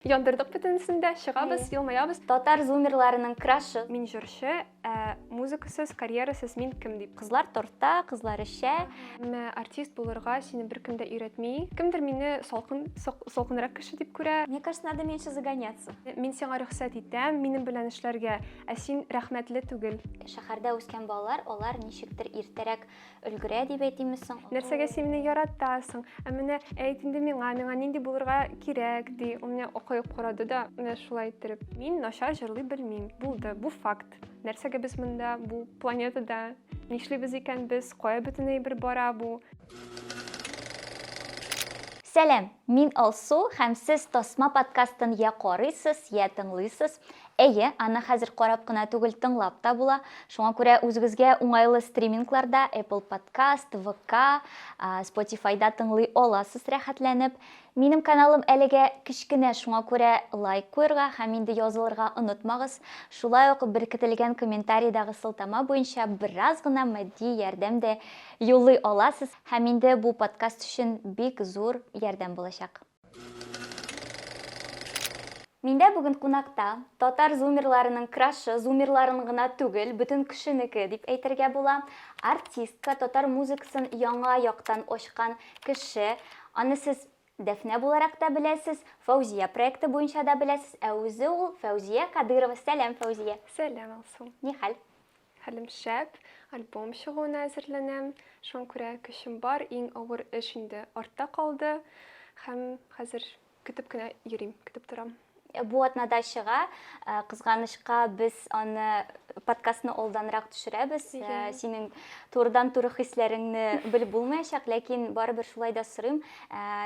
Яндырдык бөтенесен дә, чыгабыз, елмаябыз. Татар зумерларының крашы. Мин җырчы, ә музыкасыз, карьерасыз мин кем дип. Кызлар торта, кызлар эчә. Әмма артист булырга сине беркем дә өйрәтми. Кемдер мине салкын, салкынрак кеше дип күрә. Мне кажется, надо меньше загоняться. Мин сиңа рөхсәт итәм, минем белән эшләргә, ә син рәхмәтле түгел. Шәһәрдә үскән балалар, алар ничектер иртәрәк өлгерә дип әйтимме соң? Нәрсәгә син мине яратасың? Ә менә әйт инде миңа, миңа нинди булырга кирәк, ди. Ул менә акаеп карады да, менә шулай иттереп. Мин начар җырлый белмим. Булды, бу факт. Нәрсәгә без монда, бу планетада? Нишлибез икән без? Кая бөтен әйбер бара бу? Сәлам, мин Алсу һәм сез Тасма подкастын я карыйсыз, я тыңлыйсыз. Әйе, аны хәзер карап кына түгел, тыңлап та була. Шуңа күрә үзегезгә уңайлы стримингларда, Apple Podcast, VK, Spotify-да тыңлый аласыз рәхәтләнеп. Минем каналым әлегә кечкенә, шуңа күрә лайк куерга һәм инде язылырга онытмагыз. Шулай ук беркетелгән комментариедагы сылтама буенча бераз гына матди ярдәм дә юллый аласыз һәм инде бу подкаст өчен бик зур ярдәм булачак. Миндә бүген кунакта татар зумерларының крашы, зумерларын гына түгел, бөтен кешенеке дип әйтергә була, артистка, татар музыкасын яңа яктан ачкан кеше. Аны сез Дәфнә буларак та беләсез, Фәүзия проекты буенча да беләсез, ә үзе ул Фәүзия Кадырова. Сәлам, Фәүзия. Сәлам, Алсу. Ни хәл? Хәлем шәп, альбом чыгуына әзерләнәм. Шуңа күрә көчем бар, иң авыр эш инде артта калды һәм хәзер көтеп кенә йөрим, көтеп торам. Бу атнада чыга. Кызганычка, без аны подкастны алданрак төшерәбез. Синең турыдан-туры хисләреңне белеп булмаячак, ләкин барыбер шулай да сорыйм.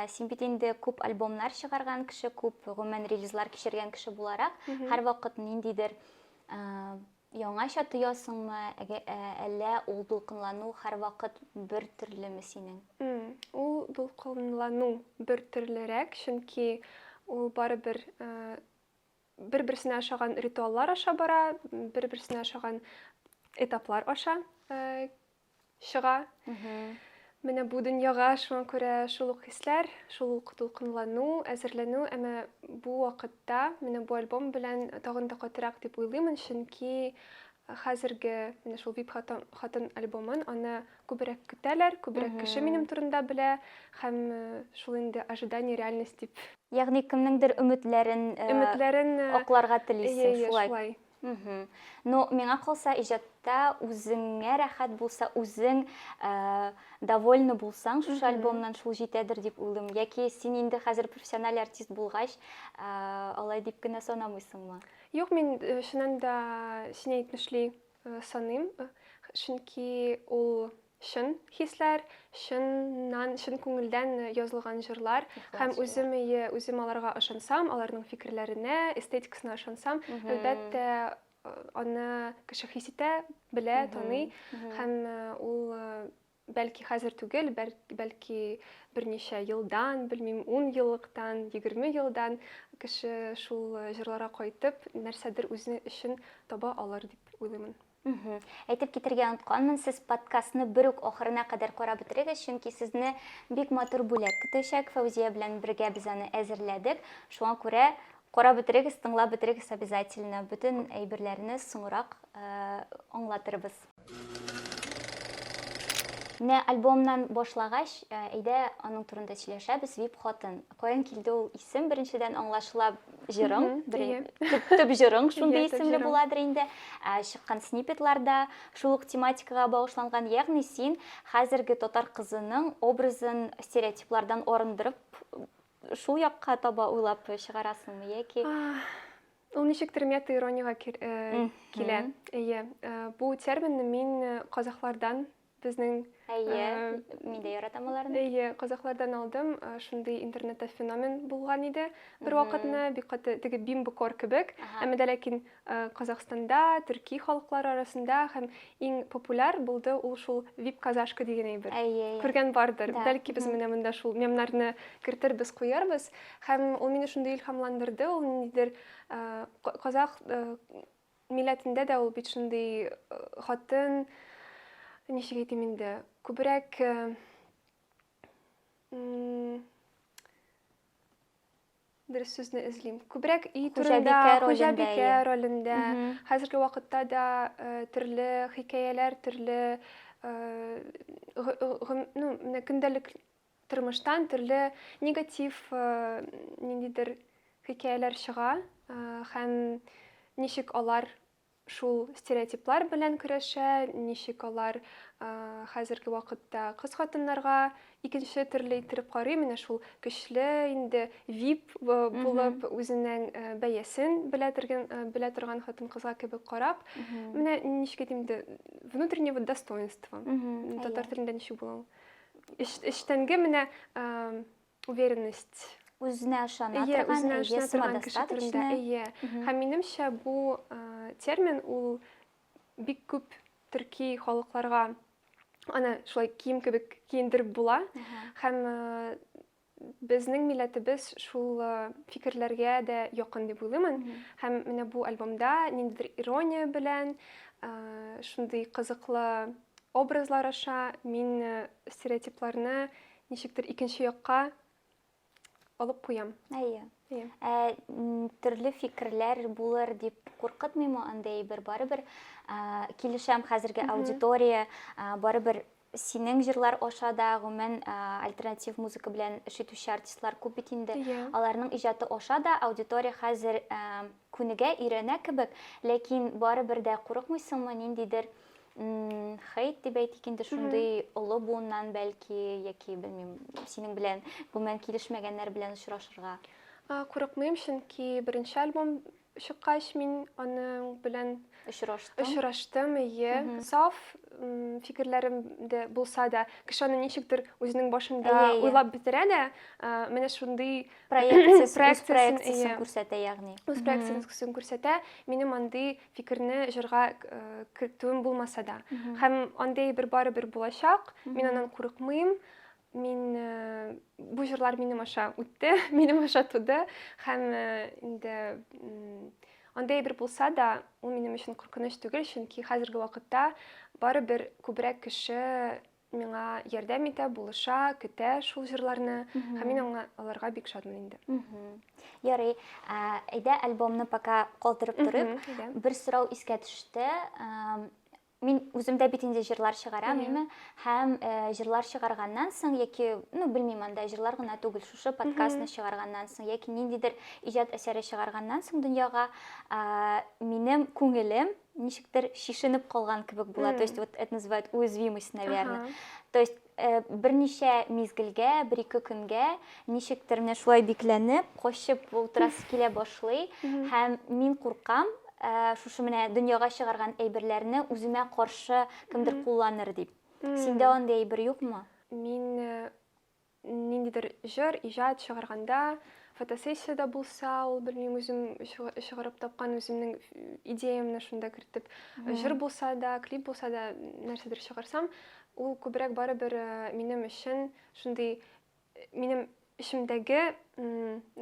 Син бит инде күп альбомнар чыгарган кеше, күп гомумән релизлар кичергән кеше буларак, һәрвакыт ниндидер Яңача тоясыңмы, әллә ул дулкынлану һәрвакыт бер төрлеме синең? Ул дулкынлану бер төрлерәк, чөнки ул барыбер бер-берсенә ошаган ритуаллар аша бара, бер-берсенә ошаган этаплар аша чыга. Менә бу дөньяга шуңа күрә шул ук хисләр, шул ук дулкынлану, әзерләнү, әмма бу вакытта менә бу альбом белән тагын да катырак дип уйлыймын, чөнки хәзерге менә шул VIP хатын альбомын аны күбрәк көтәләр, күбрәк кеше минем турында белә һәм э, шул инде ожидание реальность дип. Ягъни кемнеңдер өметләрен э, өметләрен э, акларга телисең, шулай. Мхм. Ну, миңа калса, иҗатта үзеңә рәхәт булса, үзең ә, довольны булсаң, шушы альбомнан шул җитәдер дип уйлыйм. Яки син инде хәзер профессиональ артист булгач, ә, алай дип кенә санамыйсыңмы? Юк, мин э, чыннан да син әйтмешли э, саныйм, э, чөнки ул чын хисләр, чыннан, чын күңелдән язылган җырлар һәм үзем ие, үзем аларга ышансам, аларның фикерләренә, эстетикасына ышансам, әлбәттә, аны кеше хис итә, белә, таный һәм ул бәлки хәзер түгел, бәлки берничә елдан, белмим, 10 еллыктан, 20 елдан кеше шул җырларга кайтып, нәрсәдер үзе өчен таба алыр дип уйлыймын. Мхм. Әйтеп китергә онытканмын, сез подкастны бер үк ахырына кадәр карап бетерегез, чөнки сезне бик матур бүләк көтәчәк. Фәүзия белән бергә без аны әзерләдек. Шуңа күрә карап бетерегез, тыңлап бетерегез обязательно. Бөтен әйберләрне соңрак аңлатырбыз. Менә альбомнан башлагач, әйдә аның турында сөйләшәбез, Вип хатын. Каян килде ул исем? Беренчедән аңлашыла җырың, төп җырың шундый исемле буладыр инде. Ә чыккан снипетларда шул ук тематикага багышланган, ягъни син хәзерге татар кызының образын стереотиплардан арындырып шул якка таба уйлап чыгарасыңмы яки Ул ничектер мета ирониягә э, килә. Әйе, э, бу терминны мин э, казахлардан Безнең Әйе, мин дә яратам аларны. Әйе, казахлардан алдым. Шундый интернетта феномен булган иде бер вакытны, бик каты теге бимбо кор кебек. Әмма дә ләкин Казахстанда, төрки халыклар арасында һәм иң популяр булды ул шул вип казашка дигән әйбер. Әйе. Күргән бардыр. Бәлки без менә монда шул мемнарны кертербез, куярбыз. Һәм ул мине шундый илһамландырды, ул ниндидер казах Милләтендә дә ул бит шундый хатын, ничек әйтим инде, күбрәк дөрес сүзне эзлим. Күбрәк өй турында, хуҗабикә ролендә. Хәзерге вакытта да төрле хикәяләр, төрле ну, менә көндәлек Тормыштан төрле негатив ниндидер хикәяләр чыга һәм ничек алар шул стереотиплар белән көрәшә, ничек алар хәзерге вакытта кыз хатыннарга икенче төрле иттереп карый, менә шул көчле инде вип булып үзенең бәясен белә торган белә торган хатын кызга кебек карап, менә ничек әйтим инде внутреннего достоинства. Татар телендә ничек була ул? эчтәнге менә уверенность үзенә ышана торган әйе самодостаточный әйе һәм минемчә бу термин ул бик күп төрки халыкларга аны шулай кием кебек киендереп була һәм Безнең милләтебез шул фикерләргә дә якын дип уйлыймын. Һәм менә бу альбомда ниндидер ирония белән, шундый кызыклы образлар аша мин стереотипларны ничектер икенче якка алып куям. Әйе. Ә төрле фикерләр булыр дип куркытмыймы андый әйбер? Барыбер килешәм хәзерге аудитория барыбер Синең җырлар аша да гомумән альтернатив музыка белән эш итүче артистлар күп бит инде. Аларның иҗаты аша да аудитория хәзер күнегә, өйрәнә кебек, ләкин барыбер дә курыкмыйсыңмы ниндидер хейт дип әйтик инде шундый олы буыннан бәлки яки белмим синең белән гомумән килешмәгәннәр белән очрашырга? Курыкмыйм, чөнки беренче альбом Чыккач, мин аның белән очраштым. Очраштым, ие. Саф фикерләрем дә булса да, кеше аны ничектер үзенең башында уйлап бетерә дә, менә шундый проекциясен күрсәтә, ягъни. Үз проекциясен күрсәтә. Минем андый фикерне җырга кертүем булмаса да. Һәм андый бер барыбер булачак. Мин аннан курыкмыйм. Мин бу җырлар минем аша үтте, минем аша туды һәм инде андый әйбер булса да, ул минем өчен куркыныч түгел, чөнки хәзерге вакытта барыбер күбрәк кеше миңа ярдәм итә, булыша, көтә шул җырларны һәм мин аңа аларга бик шатмын инде. Ярый, әйдә альбомны пока калдырып торыйк. Бер сорау искә төште. Мин үзем дә бит инде җырлар чыгарам, Иә. әйме? Һәм э, җырлар чыгарганнан соң яки, ну, белмим анда җырлар гына түгел, шушы подкастны чыгарганнан соң яки ниндидер иҗат әсәре чыгарганнан соң дөньяга а, минем күңелем ничектер шишенеп калган кебек була. То есть вот это называют уязвимость, наверное. Аха. То есть Берничә мизгелгә, бер-ике көнгә, ничектер менә шулай бикләнеп, качып утырасы килә башлый. Һәм мин куркам, шушы менә дөньяга чыгарган әйберләрне үземә каршы кемдер кулланыр дип. Синдә андый әйбер юкмы? Мин ниндидер җыр, иҗат чыгарганда, фотосессиядә булса, ул белмим, үзем чыгарып тапкан үземнең идеямне шунда кертеп, җыр булса да, клип булса да, нәрсәдер чыгарсам, Ул күбрәк барыбер минем өчен шундый минем эчемдәге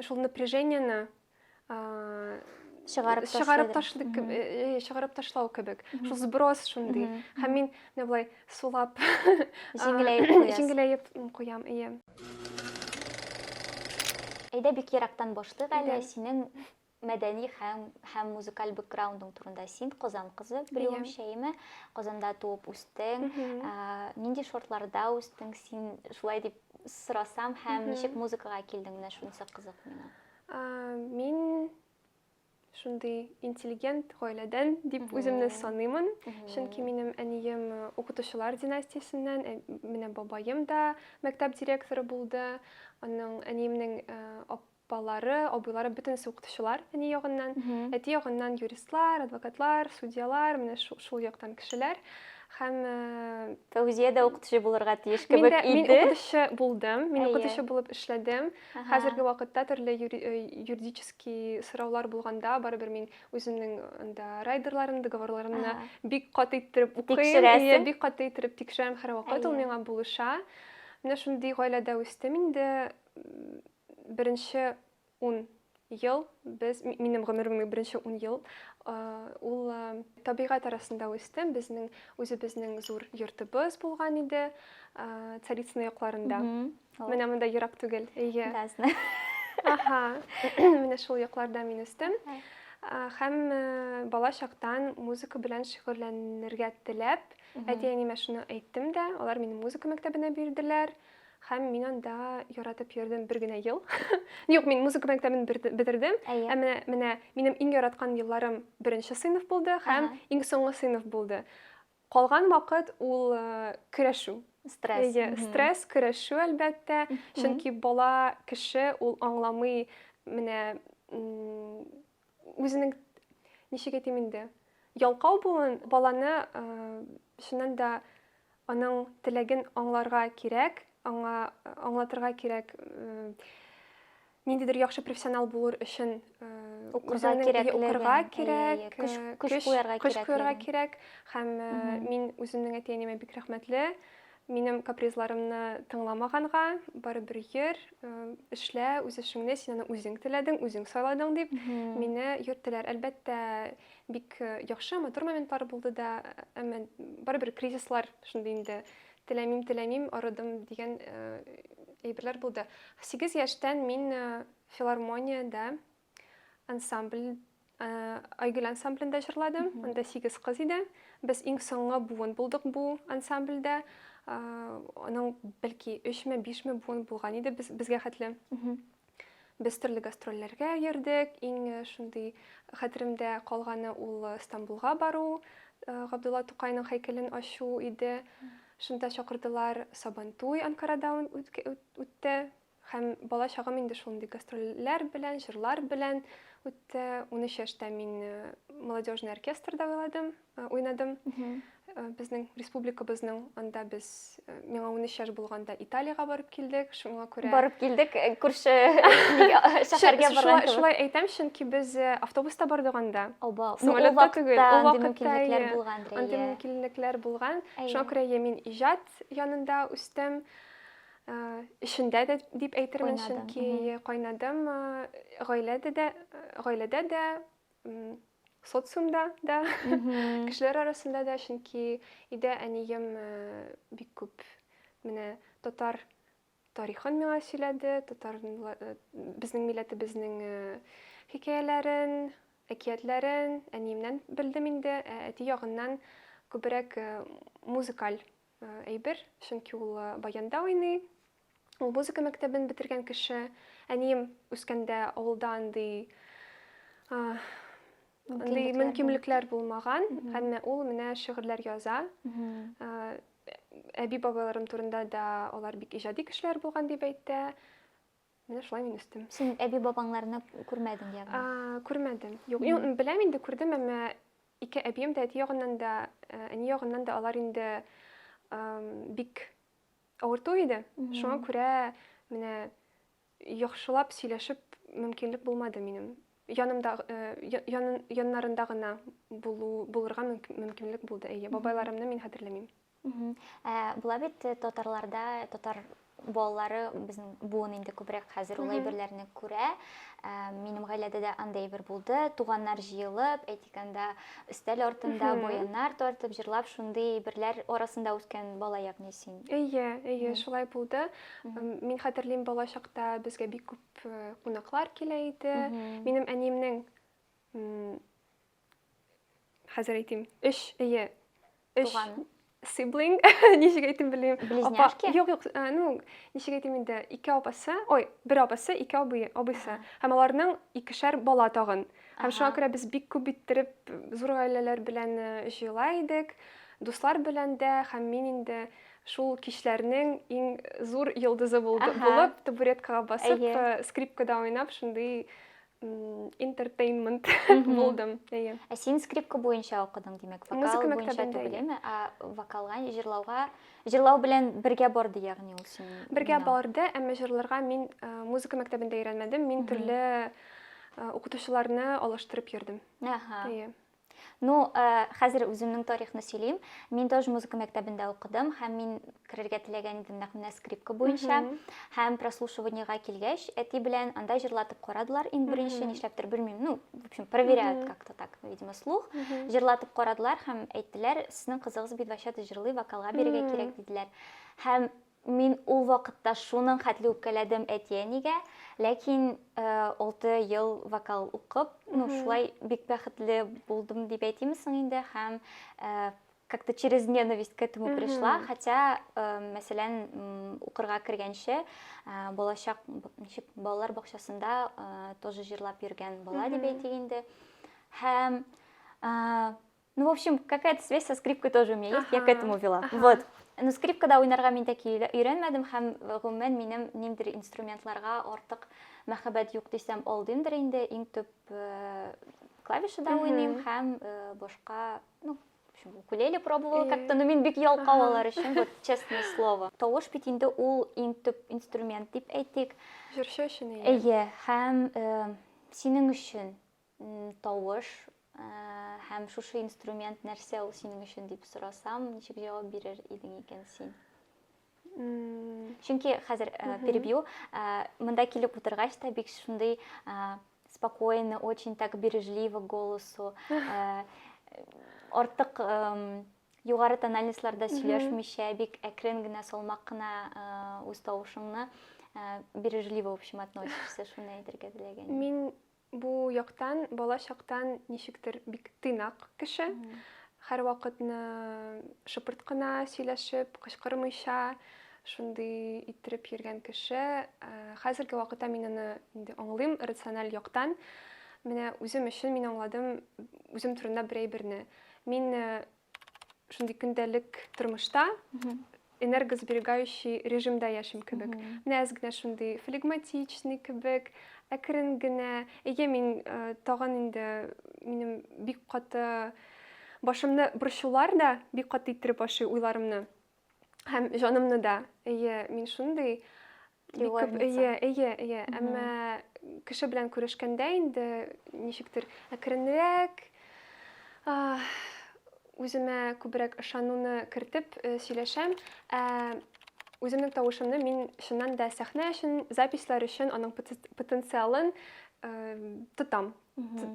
шул напряжениене чыгарып чыгарып ташлый чыгарып ташлау кебек шул сброс шундый һәм мин менә болай сулап җиңеләеп куясыз җиңеләеп куям ие әйдә бик ерактан башлыйк әле синең мәдәни һәм һәм музыкаль бэкграундың турында син Казан кызы белүем шәйме Казанда туып үстең нинди шартларда үстең син шулай дип сорасам һәм ничек музыкага килдең менә шунысы кызык миңа мин шундый интеллигент гаиләдән дип үземне саныймын чөнки минем әнием укытучылар династиясеннән менә бабаем да мәктәп директоры булды аның әниемнең Балалары, абыйлары бөтенесе укытучылар әни ягыннан. Әти ягыннан юристлар, адвокатлар, судьялар, менә шул яктан кешеләр. Һәм Фәүзия дә укытучы булырга тиеш кебек иде. Мин укытучы булдым, мин укытучы булып эшләдем. Хәзерге вакытта төрле юридический сораулар булганда, барыбер мин үземнең анда райдерларым, договорларымны бик каты иттереп укыйм, бик каты иттереп тикшерәм һәрвакыт, ул миңа булыша. Менә шундый гаиләдә үстем инде. Беренче ун ел без, минем гомеремнең беренче ун ел, ул табигать арасында үстем. Безнең үзебезнең зур йортыбыз булган иде, Царицыно якларында. Менә монда ерак түгел. Әйе. Газны. Аха. Менә шул якларда мин үстем. Һәм бала чактан музыка белән шөгыльләнергә теләп, әти-әниемә шуны әйттем дә, алар мине музыка мәктәбенә бирделәр. Һәм мин анда яратып йөрдем бер генә ел. Юк, мин музыка мәктәбен бетердем. Әйе. Ә менә менә минем иң яраткан елларым беренче сыйныф булды һәм Ага. иң соңгы сыйныф булды. Калган вакыт ул э, көрәшү. Стресс. Әйе, Мгм. стресс, көрәшү, әлбәттә. Мгм. Чөнки бала кеше ул аңламый менә м, Үзенең ничек әйтим инде, ялкау булуын баланы чыннан да аның теләген аңларга кирәк, аңа аңлатырга кирәк ниндидер яхшы профессионал булыр өчен укырга кирәк, укырга кирәк, көч куярга кирәк. Көч куярга кирәк һәм мин үземнең әти-әниемә бик рәхмәтле. Минем капризларымны тыңламаганга, барыбер йөр, эшлә үз эшеңне, син аны үзең теләдең, үзең сайладың дип, мине йөрттеләр. Әлбәттә, бик яхшы, матур моментлар булды да, әмма барыбер кризислар шундый инде. Теләмим, теләмим, арыдым дигән әйберләр булды. Сигез яшьтән мин филармониядә Ансамбль Айгөл ансамблендә җырладым. Анда 8 кыз иде. Без иң соңгы буын булдык бу ансамбльдә. Аның бәлки 3 ме, 5 ме буын булган иде без безгә хәтле. Без төрле гастрольләргә йөрдек. Иң шундый хәтеремдә калганы ул Стамбулга бару, Габдулла Тукайның һәйкәлен ачу иде. Шунда чакырдылар. Сабантуй Анкарада үтте. Һәм бала чагым инде шундый гастрольләр белән, җырлар белән үтте. 13 яшьтә мин э, молодежный оркестрда уйладым, э, уйнадым. Э, Безнең республикабызның анда без э, миңа 13 яшь булганда Италиягә барып килдек. Шуңа күрә Барып килдек, э, күрше шәһәргә Шу- барган шулай, кебек. шулай әйтәм, чөнки без э, автобуста бардык анда. Оба, ну, ул Самолетта түгел, вакытта ул андый вакытта, мөмкинлекләр иә. булган Андый дә, иә. мөмкинлекләр булган. Әйе. Шуңа күрә я мин иҗат янында үстем. эшендә дә дип әйтермен, чөнки кайнадым гаиләдә дә, гаиләдә дә, социумда да, кешеләр арасында да, чөнки өйдә әнием бик күп менә татар тарихын миңа сөйләде, татар э, безнең милләтебезнең э, хикәяләрен, әкиятләрен әниемнән белдем инде, ә әти ягыннан күбрәк э, музыкаль Әйбер, чөнки ул баянда уйный. Ул музыка мәктәбен бетергән кеше. Әнием үскәндә авылда андый андый мөмкинлекләр булмаган, әмма ул менә шигырьләр яза. Әби-бабаларым турында да алар бик иҗади кешеләр булган дип әйтә. Менә шулай мин үстем. Син әби-бабаңларны күрмәдең, ягъни? Күрмәдем. Юк, беләм инде, күрдем, әмма ике әбием дә, әти ягыннан да, э, әни ягыннан да алар инде бик авырту иде. Шуңа күрә менә яхшылап сөйләшеп мөмкинлек булмады минем. Янымда э, яннарында гына булу булырга мөмкинлек булды. Әйе, бабайларымны мин хәтерләмим. Ә була бит э, татарларда, татар балалары безнең буын инде күбрәк хәзер ул әйберләрне күрә. Ә, минем гаиләдә дә андай әйбер булды. Туганнар җыелып, әйтик анда өстәл артында буеннар тартып, җырлап шундый әйберләр арасында үткән бала ягъни син. Әйе, әйе, шулай булды. Мин хәтерлим, бала чакта безгә бик күп э, кунаклар килә иде. Минем әниемнең Хәзер әйтим. Өч, әйе. Өч. Туган. Сиблинг, ничек әйтим белмим. Близняшки? Юк, юк, э, ну, ничек әйтим инде, ике апасы, ой, бер апасы, ике абый, абыйсы. Һәм аларның икешәр бала тагын. Һәм шуңа күрә без бик күп иттереп зур гаиләләр белән э, җыела идек. Дуслар белән дә һәм мин инде шул кичләрнең иң зур йолдызы булды, булып табуреткага басып, э, скрипкада уйнап, шундый интертейнмент булдым әйе ә син скрипка буенча укыдың димәк вокал буенча түгелме ә вокалга җырлауга җырлау белән бергә барды ягъни ул син бергә барды әмма җырларга мин музыка мәктәбендә өйрәнмәдем мин төрле укытучыларны алыштырып йөрдем әйе Ну, хәзер үземнең тарихны сөйлим. Мин тоже музыка мәктәбендә укыдым һәм мин керергә теләгән идем нәкъ менә скрипка буенча. Һәм прослушиваниега килгәч, әти белән анда җырлатып карадылар иң беренче, нишләптер белмим. Ну, в общем, проверяют как-то так, видимо, слух. Җырлатып карадылар һәм әйттеләр, сезнең кызыгыз бит вообще-то җырлый, вокалга бирергә кирәк диделәр. Һәм Мин ул вакытта шуның хәтле үпкәләдем әти-әнигә, ләкин алты ел вокал укып, ну, шулай бик бәхетле булдым дип әйтиме соң инде, һәм как-то через ненависть к этому пришла, хотя, э, мәсәлән, укырга кергәнче, э, балачак, ничек, балалар бакчасында э, тоже җырлап йөргән бала дип әйтик инде. Һәм э, Ну, в общем, какая-то связь со скрипкой тоже у меня есть, я к этому вела. Вот. Ну, скрипкада уйнарга мин тәки өйрәнмәдем һәм гомумән минем ниндер инструментларга артык мәхәббәт юк дисәм алдыймдыр инде. Иң төп э, клавишада уйныйм һәм э, башка, ну, укулеле пробовала как-то, но мин бик ялкау алар өчен, вот честное слово. Тавыш бит инде ул иң төп инструмент дип әйтик. Җырчы өчен әйе. Әйе, һәм э, синең өчен Тавыш һәм шушы инструмент нәрсә ул синең өчен дип сорасам, ничек җавап бирер идең икән син? Чөнки хәзер перебью, монда килеп утыргач та бик шундый спокойный, очень так бережливо голосу, артык югары тональностьларда сөйләшмичә, бик әкрен генә, салмак кына үз тавышыңны бережливо, в общем, относишься, шуны әйтергә теләгән. Мин Бу яктан бала чактан ничектер бик тыйнак кеше. Һәрвакытны шыпырт кына сөйләшеп, кычкырмыйча, шундый иттереп йөргән кеше. Хәзерге вакытта мин аны инде аңлыйм рациональ яктан. Менә үзем өчен мин аңладым үзем турында бер әйберне. Мин шундый көндәлек тормышта энергосберегающий режимда яшим кебек менә әз генә шундый флегматичный кебек әкрен генә әйе мин э, тагын инде минем бик каты башымны борчулар да бик каты иттереп ашый уйларымны һәм җанымны да әйе мин шундый бик күп әйе әйе әйе әмма кеше белән күрешкәндә инде ничектер әкренрәк үземә күбрәк ышануны кертеп э, сөйләшәм ә үземнең тавышымны мин чыннан да сәхнә өчен записьләр өчен аның потенциалын э, тотам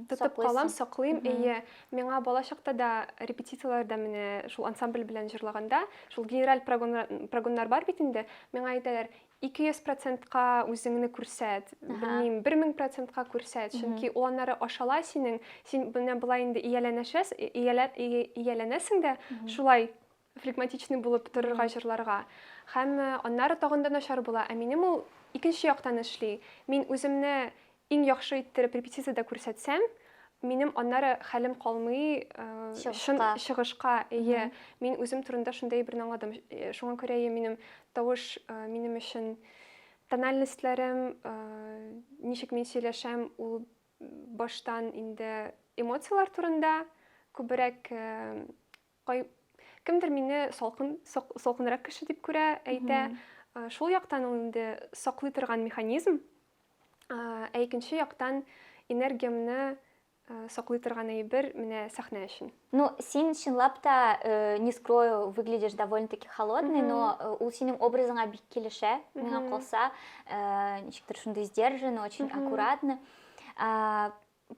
Тотып калам, саклыйм. Әйе, миңа бала чакта да репетицияләрдә менә шул ансамбль белән җырлаганда, шул генераль прогоннар бар бит инде, миңа әйтәләр, 200%-ка үзеңне күрсәт, белмим, 1000%-ка күрсәт, чөнки ул аннары ашала синең, син менә болай инде ияләнәшәс, ияләнәсең дә, шулай флегматичный булып торырга җырларга. Һәм э, аннары тагын да начар була. Ә минем ул икенче яктан эшли. Мин үземне иң яхшы иттереп репетициядә күрсәтсәм, минем аннары хәлем калмый э, чын чыгышка. Әйе, мин үзем турында шундый әйберне аңладым. Э, шуңа күрә әйе, минем тавыш э, минем өчен тональностьләрем, ничек мин сөйләшәм, ул баштан инде эмоцияләр турында күбрәк Кай... Кемдер мине салкын, сок, салкынрак кеше дип күрә, әйтә. Mm -hmm. Шул яктан ул инде саклый торган механизм, ә икенче яктан энергиямне саклый торган әйбер менә сәхнә өчен. Ну, син чынлап та, э, не скрою, выглядишь довольно-таки холодный, но э, ул синең образыңа бик килешә, миңа калса, э, ничектер шундый сдержанный, очень аккуратно.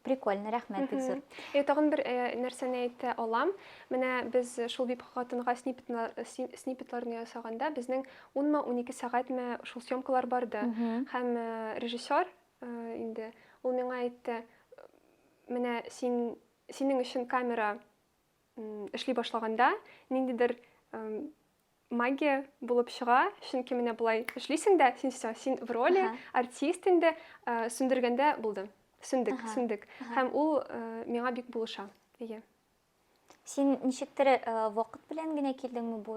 Прикольно, рәхмәт бик зур. Э, тагын бер э, нәрсәне әйтә алам. Менә без шул бип хатынга снипетларны ясаганда безнең 10-ма 12 сәгатьме шул съемкалар барды. Һәм э, режиссер инде ул миңа әйтте, менә син синең өчен камера эшли башлаганда ниндидер магия булып чыга, чөнки менә болай эшлисең дә, син все, син в роли, артист инде, э, сүндергәндә булды. Сүндек, Ага. сүндек. Ага. Һәм ул э, миңа бик булыша. Әйе. Син ничектер э, вакыт белән генә килдеңме бу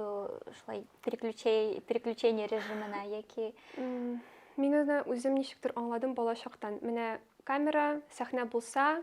шулай переключей- переключение режимына яки М, Мин аны үзем ничектер аңладым балачактан. Менә камера, сәхнә булса,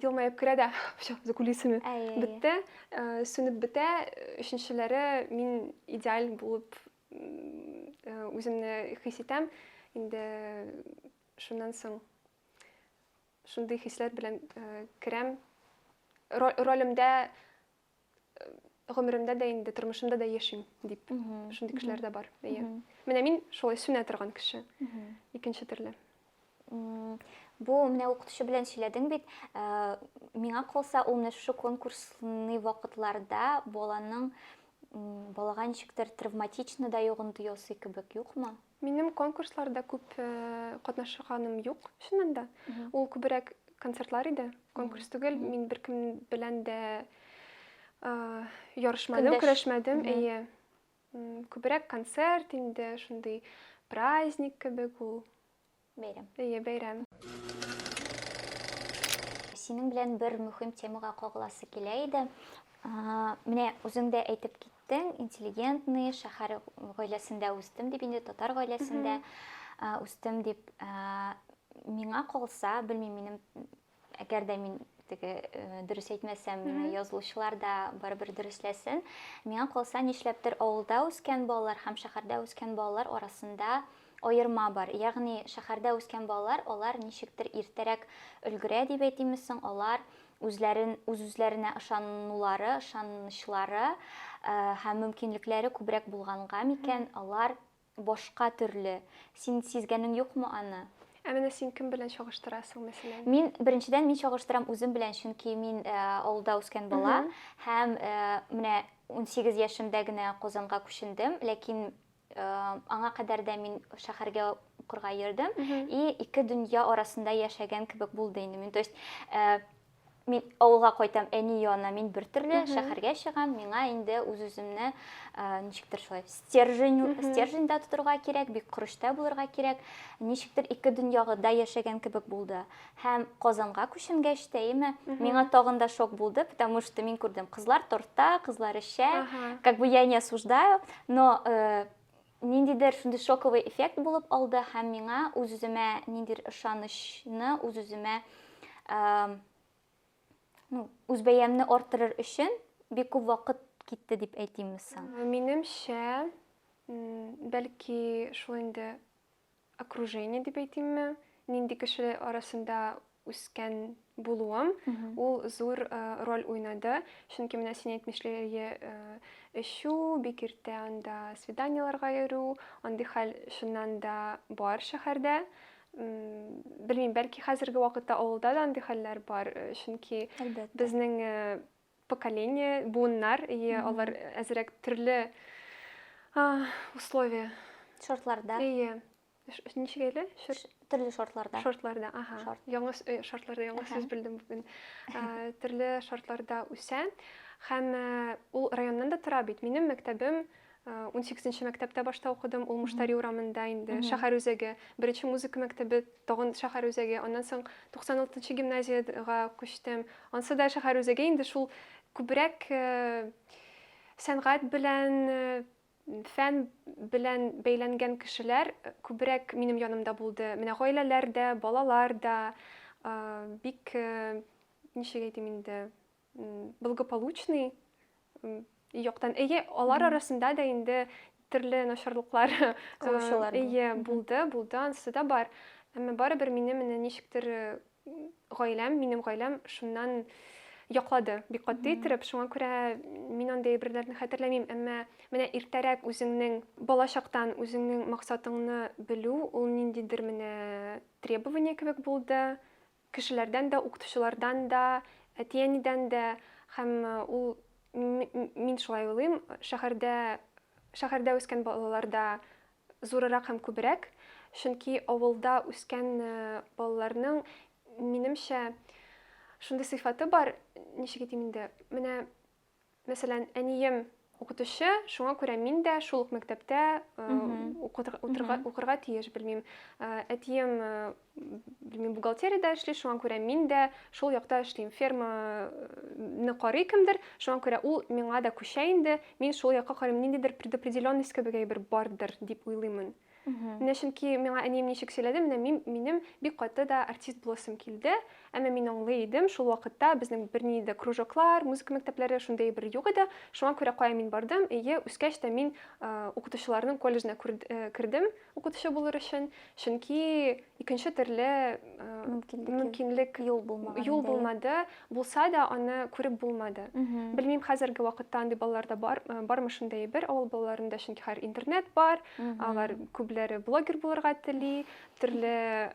елмаеп керә дә все закулисами бетте сүнеп бетә өченчеләре мин идеаль булып үземне хис итәм инде шуннан соң шундый хисләр белән керәм ролемдә гомеремдә дә инде тормышымда да яшим дип шундый кешеләр дә бар әйе менә мин шулай сүнә торган кеше икенче төрле бу менә укытучы белән сөйләдең бит ә, миңа калса ул менә шушы конкурсный вакытларда баланың балага ничектер травматично да йогынты ясый кебек юкмы Минем конкурсларда күп катнашканым юк, чыннан да. Ул күбрәк концертлар иде, конкурс түгел. Мин беркем белән дә ярышмадым, көрәшмәдем. Әйе. Күбрәк концерт инде, шундый праздник кебек ул. Бәйрәм. Әйе, бәйрәм. Синең белән бер мөһим темага кагыласы килә иде. Менә үзең дә әйтеп киттең, интеллигентный, шәһәр гаиләсендә үстем дип инде, татар гаиләсендә үстем дип. Миңа калса, белмим, минем Әгәр дә мин теге дөрес әйтмәсәм, мине язылучылар да барыбер дөресләсен. Миңа калса, нишләптер авылда үскән балалар һәм шәһәрдә үскән балалар арасында аерма бар. Ягъни шәһәрдә үскән балалар, алар ничектер иртәрәк өлгерә дип әйтимме соң, алар үзләрен үз-үзләренә ышанулары, ышанычлары һәм мөмкинлекләре күбрәк булганга микән, алар Башка төрле. Син сизгәнең юкмы аны? Ә менә син кем белән чагыштырасың, мәсәлән? Мин, беренчедән, мин чагыштырам үзем белән, чөнки мин э, авылда үскән бала һәм э, менә 18 яшемдә генә Казанга күчендем, ләкин э, аңа кадәр дә мин шәһәргә укырга йөрдем и ике дөнья арасында яшәгән кебек булды инде мин. То есть э, мин авылга кайтам әни янына мин бер төрле шәһәргә чыгам миңа инде үз үземне ничектер шулай стержень стерженьда тотырга кирәк бик корычта булырга кирәк ничектер ике дөньягыда яшәгән кебек булды һәм казанга күченгәч тә яме миңа тагын да шок булды потому что мин күрдем кызлар торта кызлар эчә как бы я не осуждаю но э, Ниндидер шундый шоковый эффект булып алды һәм миңа үз-үземә ниндидер ышанычны, үз-үземә ну, үз бәямне арттырыр өчен бик күп вакыт китте дип әйтимме соң? Минемчә, бәлки шул инде окружение дип әйтимме, нинди кеше арасында үскән булуым, ул зур э, роль уйнады. Чөнки менә син әйтмешләре э, эчү, бик иртә анда свиданиеләргә йөрү, андый хәл чыннан да бар шәһәрдә. Белмим, бәлки хәзерге вакытта авылда да андый хәлләр бар, э, чөнки безнең поколение, буыннар, и алар әзерәк төрле условия. Шартларда. Ие. Ничек әле? Төрле шартларда. Шартларда, ага. Шарт. Яңа э, шартларда, яңа сүз белдем бүген. Төрле шартларда үсә. Һәм э, ул районнан да тора бит. Минем мәктәбем 18 мәктәптә башта укыдым, ул Муштари урамында инде, шәһәр үзәге. Беренче музыка мәктәбе тагын шәһәр үзәге. Аннан соң 96 гимназиягә күчтем. Ансы да шәһәр үзәге инде шул күбрәк э, сәнгать белән э, фән белән бәйләнгән кешеләр э, күбрәк минем янымда булды. Менә гаиләләр дә, балалар да бик ничек әйтим инде, благополучный яктан әйе алар арасында да инде төрле начарлыклар кылучылар әйе булды булды анысы да бар әмма барыбер мине менә ничектер гаиләм минем гаиләм шуннан яклады бик катгый иттереп шуңа күрә мин андый әйберләрне хәтерләмим әмма менә иртәрәк үзеңнең балачактан үзеңнең максатыңны белү ул ниндидер менә требование кебек булды Кешеләрдән дә, укытучылардан да, әти-әнидән дә һәм ул, мин шулай уйлыйм, шәһәрдә, шәһәрдә үскән балаларда зурырак һәм күбрәк, чөнки авылда үскән балаларның, минемчә, шундый сыйфаты бар, ничек әйтим инде, менә Мәсәлән, әнием укытучы, шуңа күрә мин дә шул ук мәктәптә укырга тиеш, белмим. Әтием, белмим, бухгалтериядә эшли, шуңа күрә мин дә шул якта эшлим. Ферманы карый кемдер, шуңа күрә ул миңа да күчә инде, мин шул якка карыйм, ниндидер предопределенность кебек әйбер бардыр дип уйлыймын. Менә чөнки миңа әнием ничек сөйләде, менә мин, минем бик каты да артист буласым килде. Әмма мин аңлый идем, шул вакытта безнең берни дә кружоклар, музыка мәктәпләре шундый бер юк иде. Шуңа күрә кая мин бардым? Ие, үскәч тә мин укытучыларның колледжына кердем укытучы булыр өчен, чөнки икенче төрле мөмкинлек юл булмады. Булса да, аны күреп булмады. Белмим, хәзерге вакытта андый балаларда бар, бармы шундый әйбер. Авыл балаларында чөнки хәзер интернет бар, алар күпләре блогер булырга тели, төрле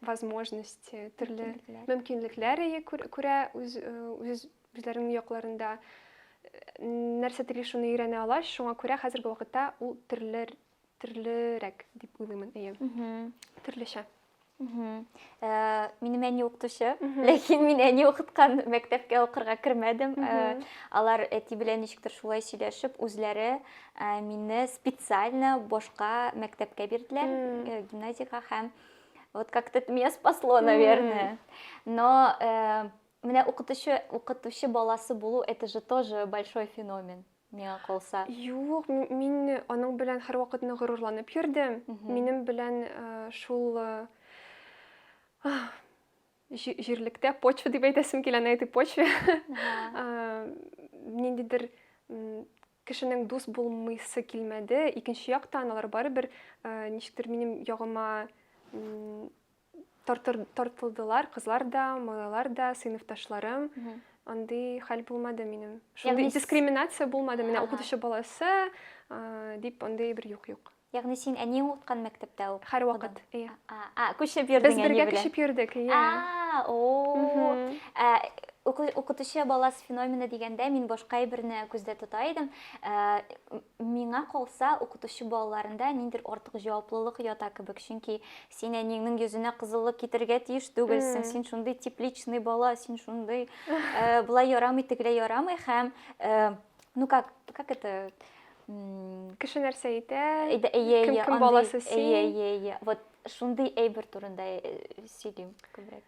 возможность, төрле мөмкинлекләр күрә үз үзләренең якларында нәрсә тели шуны өйрәнә ала, шуңа күрә хәзерге вакытта ул төрле төрлерәк дип уйлыймын әйе төрлечә Ә, минем әни укытучы, ләкин мин әни укыткан мәктәпкә укырга кермәдем. Ә, алар әти белән ничектер шулай сөйләшеп, үзләре ә, мине специально башка мәктәпкә бирделәр, э, гимназиягә һәм вот как-то это меня спасло, наверное. Но э, менә укытучы, укытучы баласы булу, это же тоже большой феномен. миңа калса. Юк, мин аның белән һәрвакыт нык горурланып йөрдем. Минем белән шул җирлектә почва дип әйтәсем килә, на этой почве. Ниндидер кешенең дус булмыйсы килмәде. Икенче яктан алар барыбер ничектер минем ягыма тартылдылар, кызлар да, малайлар да, сыйныфташларым. Андый хәл булмады минем. Шундый дискриминация булмады. Менә укытучы баласы дип андый бер юк юк. Ягъни син әниең укыткан мәктәптә укыдың? Һәрвакыт, ия. А, күчеп йөрдең Без бергә күчеп йөрдек, ия. А, о. Ә укытучы баласы феномены дигәндә мин башка әйберне күздә тота идем. Ә, миңа калса, укытучы балаларында ниндер артык җаваплылык ята кебек, чөнки Син әниеңнең йөзенә кызыллык китерергә тиеш түгелсең, син шундый тепличный бала, син шундый э, былай ярамый, тегеләй ярамый һәм э, ну как, как это м, Кеше нәрсә әйтә? әйдә, әйе, Кем- әйе, кем андый- баласы әйе, син? әйе, әйе. Вот шундый әйбер турында э, сөйлим күбрәк.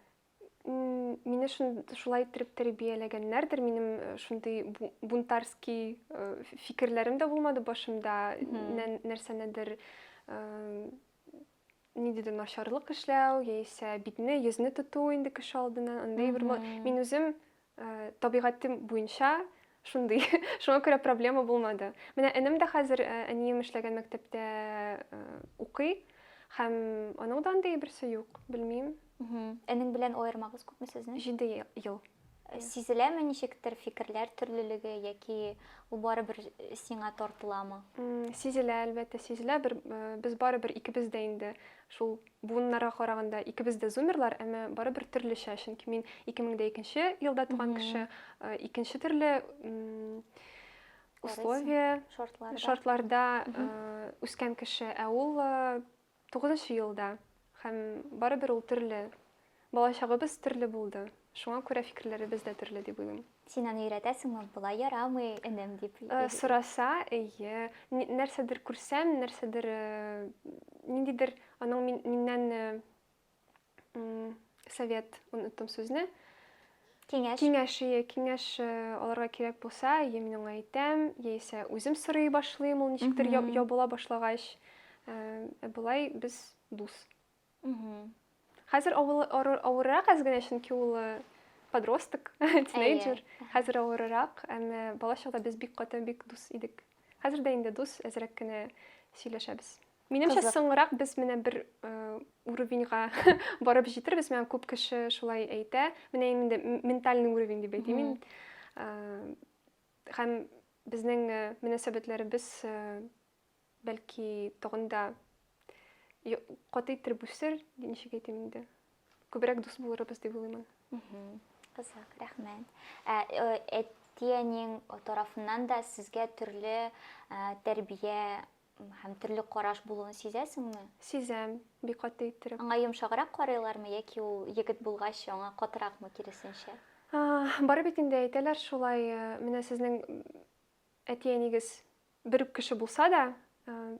М, Мине шун- шулай иттереп тәрбияләгәннәрдер. Минем э, шундый бу- бунтарский э, ф- фикерләрем дә булмады башымда. Мгм. Нә- Нәрсәнедер э, нидедер начарлык эшләү яисә битне йөзне тоту инде кеше алдыннан андый бер мин үзем э, табигатем буенча шундый шуңа күрә проблема булмады менә энем дә хәзер э, әнием эшләгән мәктәптә э, укый һәм аның да андый берсе юк белмим Энең белән аермагыз күпме сезнең? Җиде ел. Сизеләме ничектер фикерләр төрлелеге яки ул барыбер сиңа тартыламы? Сизелә, әлбәттә, сизелә. Бер без барыбер икебез дә инде шул буыннарга караганда икебез дә зумерлар, әмма барыбер төрлечә, чөнки мин 2002 елда туган кеше, икенче төрле условия, шартларда үскән кеше, ә ул Тугызынчы ел да. Һәм барыбер ул төрле. Балачагыбыз төрле булды. Шуңа күрә фикерләребез дә төрле дип уйлыйм. Син аны өйрәтәсеңме, болай ярамый, энем, дип? Сораса, әйе. Нәрсәдер күрсәм, нәрсәдер, ниндидер аның миннән совет, оныттым сүзне. Киңәш. Киңәш, ие, киңәш э, аларга кирәк булса, я мин аңа әйтәм, яисә үзем сорый башлыйм, ул ничектер я- ябыла башлагач. Э, ә Болай без дус. Хәзер авыл- авыр- авыррак әз генә, чөнки ул э, подросток, тинейджер. Хәзер авыррак, әмма балачакта без бик каты, бик дус идек. Хәзер дә инде дус, әзрәк кенә сөйләшәбез. Минемчә, соңрак без менә бер уровеньга барып җитербез. Миңа күп кеше шулай әйтә. Менә инде ментальный уровень дип әйтим мин. Һәм безнең мөнәсәбәтләребез бәлки тагын да каты итер бүсер, ничек әйтим инде. Күбрәк дус булырбыз дип уйлыйм. Кызык, рәхмәт. Әти-әниң тарафыннан да сезгә төрле тәрбия Һәм төрле караш булуын сизәсеңме? Сизәм, бик каты иттереп. Аңа йомшаграк карыйлармы яки ул егет булгач аңа катыракмы, киресенчә? Бары бит инде әйтәләр шулай, менә сезнең әти-әнигез бер үк кеше булса да,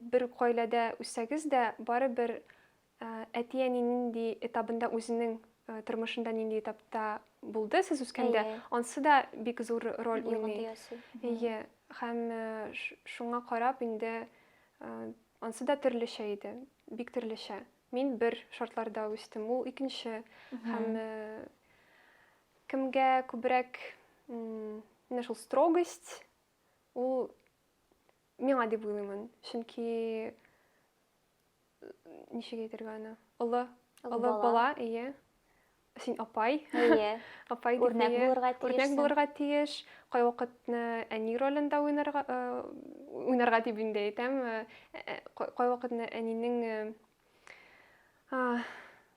бер үк гаиләдә үссәгез дә, барыбер Әти-әни нинди этабында үзенең тормышында нинди этапта булды сез үскәндә, ансы да бик зур роль уйный. Әйе, һәм шуңа карап инде ансы да төрлечә иде, бик төрлечә. Мин бер шартларда үстем, ул икенче. Һәм кемгә күбрәк менә шул строгость, ул миңа дип уйлыймын. Чөнки ничек әйтергә аны олы олы бала әйе син апай әйе апай үрнәк булырга тиеш үрнәк булырга тиеш кайвакытны әни ролендә уйнарга уйнарга дип инде әйтәм кайвакытны әнинең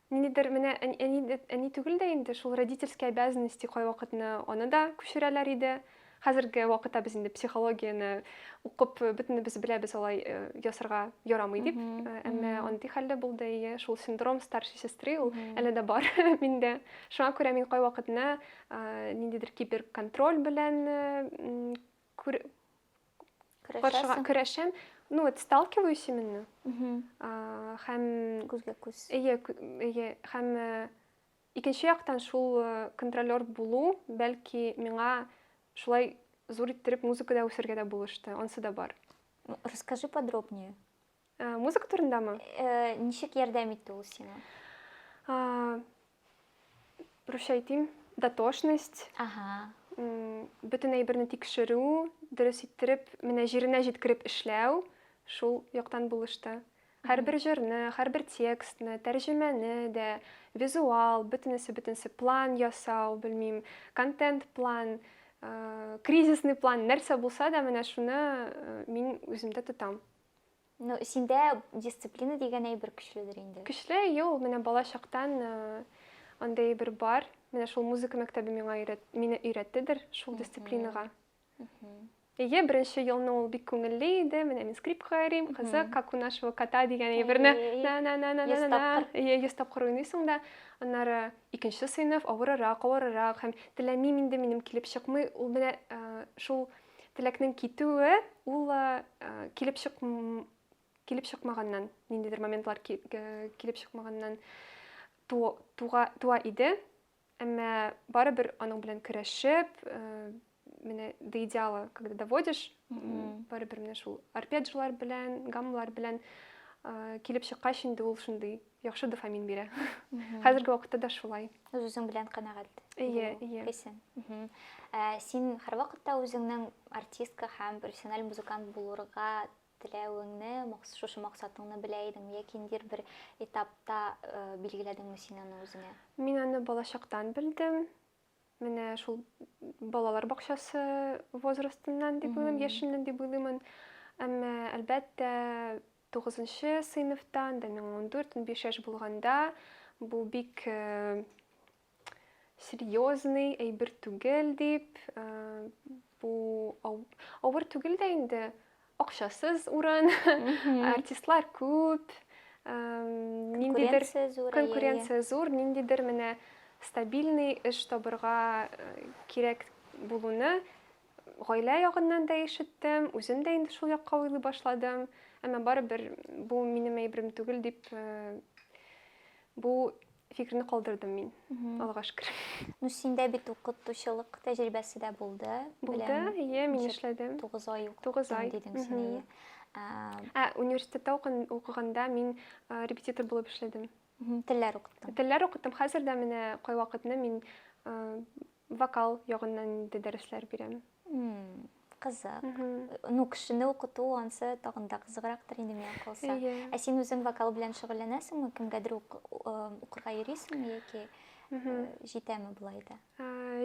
Ниндидер менә әни дип әни түгел дә инде, шул родительские обязанности кайвакытны аны да күчерәләр иде. Хәзерге вакытта без инде психологияне укып бөтенебез беләбез алай э, ясарга ярамый дип. Э, әмма андый хәлле булды ие, шул синдром старшей сестры ул әле дә бар миндә. Шуңа күрә мин кайвакытны э, ниндидер киберконтроль белән күр Каршыга көрәшәм. Ну, вот сталкиваюсь именно. Хәм... Күзгә күз. Ие, ие. Хәм икенче яктан шул контролер булу, бәлки миңа шулай зур иттереп музыкада үсергә дә булышты. Онсы да бар. Расскажи подробнее. Ә, музыка турындамы? Э, ничек ярдәм итте ул сиңа? А, Русча әйтим, дотошность, Ага. м, бөтен әйберне тикшерү, дөрес иттереп, менә җиренә җиткереп эшләү, шул яктан булышты. Һәрбер җырны, һәрбер текстны, тәрҗемәне дә, визуал, бөтенесе, бөтенесе, план ясау, белмим, контент план, э, кризисный план, нәрсә булса да, менә шуны э, мин үземдә тотам. Ну, синдә дисциплина дигән әйбер көчледер инде. Көчле, ю, менә бала чактан э, андый әйбер бар. Менә шул музыка мәктәбе миңа өйрәт, мине өйрәттедер шул дисциплинага. Ие, беренче елны ул бик күңелле иде. Менә мин скрипкага йөрим, кызык, как у нашего кота дигән әйберне. Ие, йөз тапкыр уйныйсың да. Аннары икенче сыйныф авырырак, авырырак һәм теләмим инде минем килеп чыкмый. Ул менә э, шул Теләкнең китүе ул килеп чык килеп чыкмаганнан, ниндидер моментлар килеп чыкмаганнан туа, туа иде. Әмма барыбер аның белән көрәшеп, менә до идеала, когда доводишь, барыбер менә шул арпеджлар белән, гаммалар белән килеп чыккач инде ул шундый яхшы дофамин бирә. Хәзерге вакытта да шулай. Үз үзең белән канәгать. Ие, ие. Исен. Ә, син һәрвакытта үзеңнең артистка һәм профессиональ музыкант булырга теләвеңне, шушы максатыңны белә идеңме яки ниндидер бер этапта э, билгеләдеңме син аны үзеңә? Мин аны балачактан белдем. Менә шул балалар бакчасы возрастыннан дип уйлыйм, яшеннән дип уйлыймын. Әмма әлбәттә Тугызынчы сыйныфта, анда миңа ундүрт, унбиш яшь булганда, бу бик серьезный әйбер түгел дип, бу авыр түгел дә инде, акчасыз урын, артистлар күп, ниндидер конкуренция зур, ниндидер менә стабильный эш табырга кирәк булуны Гаилә ягыннан да ишеттем, үзем дә инде шул якка уйлый башладым. Әмма барыбер бу минем әйберем түгел дип бу фикерне калдырдым мин. Аллага шөкер. Ну синдә бит укытучылык тәҗрибәсе дә булды. Булды, ие, мин эшләдем. 9 ай укыттым дидең син. Ә университетта укыганда мин репетитор булып эшләдем. Телләр укыттым. Телләр укыттым. Хәзер дә менә кайвакытны мин вокал ягыннан инде дәресләр бирәм. Кызык. Ну, кешене укыту ансы тагын да кызыграктыр инде миңа калса. Ә син үзең вокал белән шөгыльләнәсеңме? Кемгәдер укырга йөрисеңме яки җитәме болай да?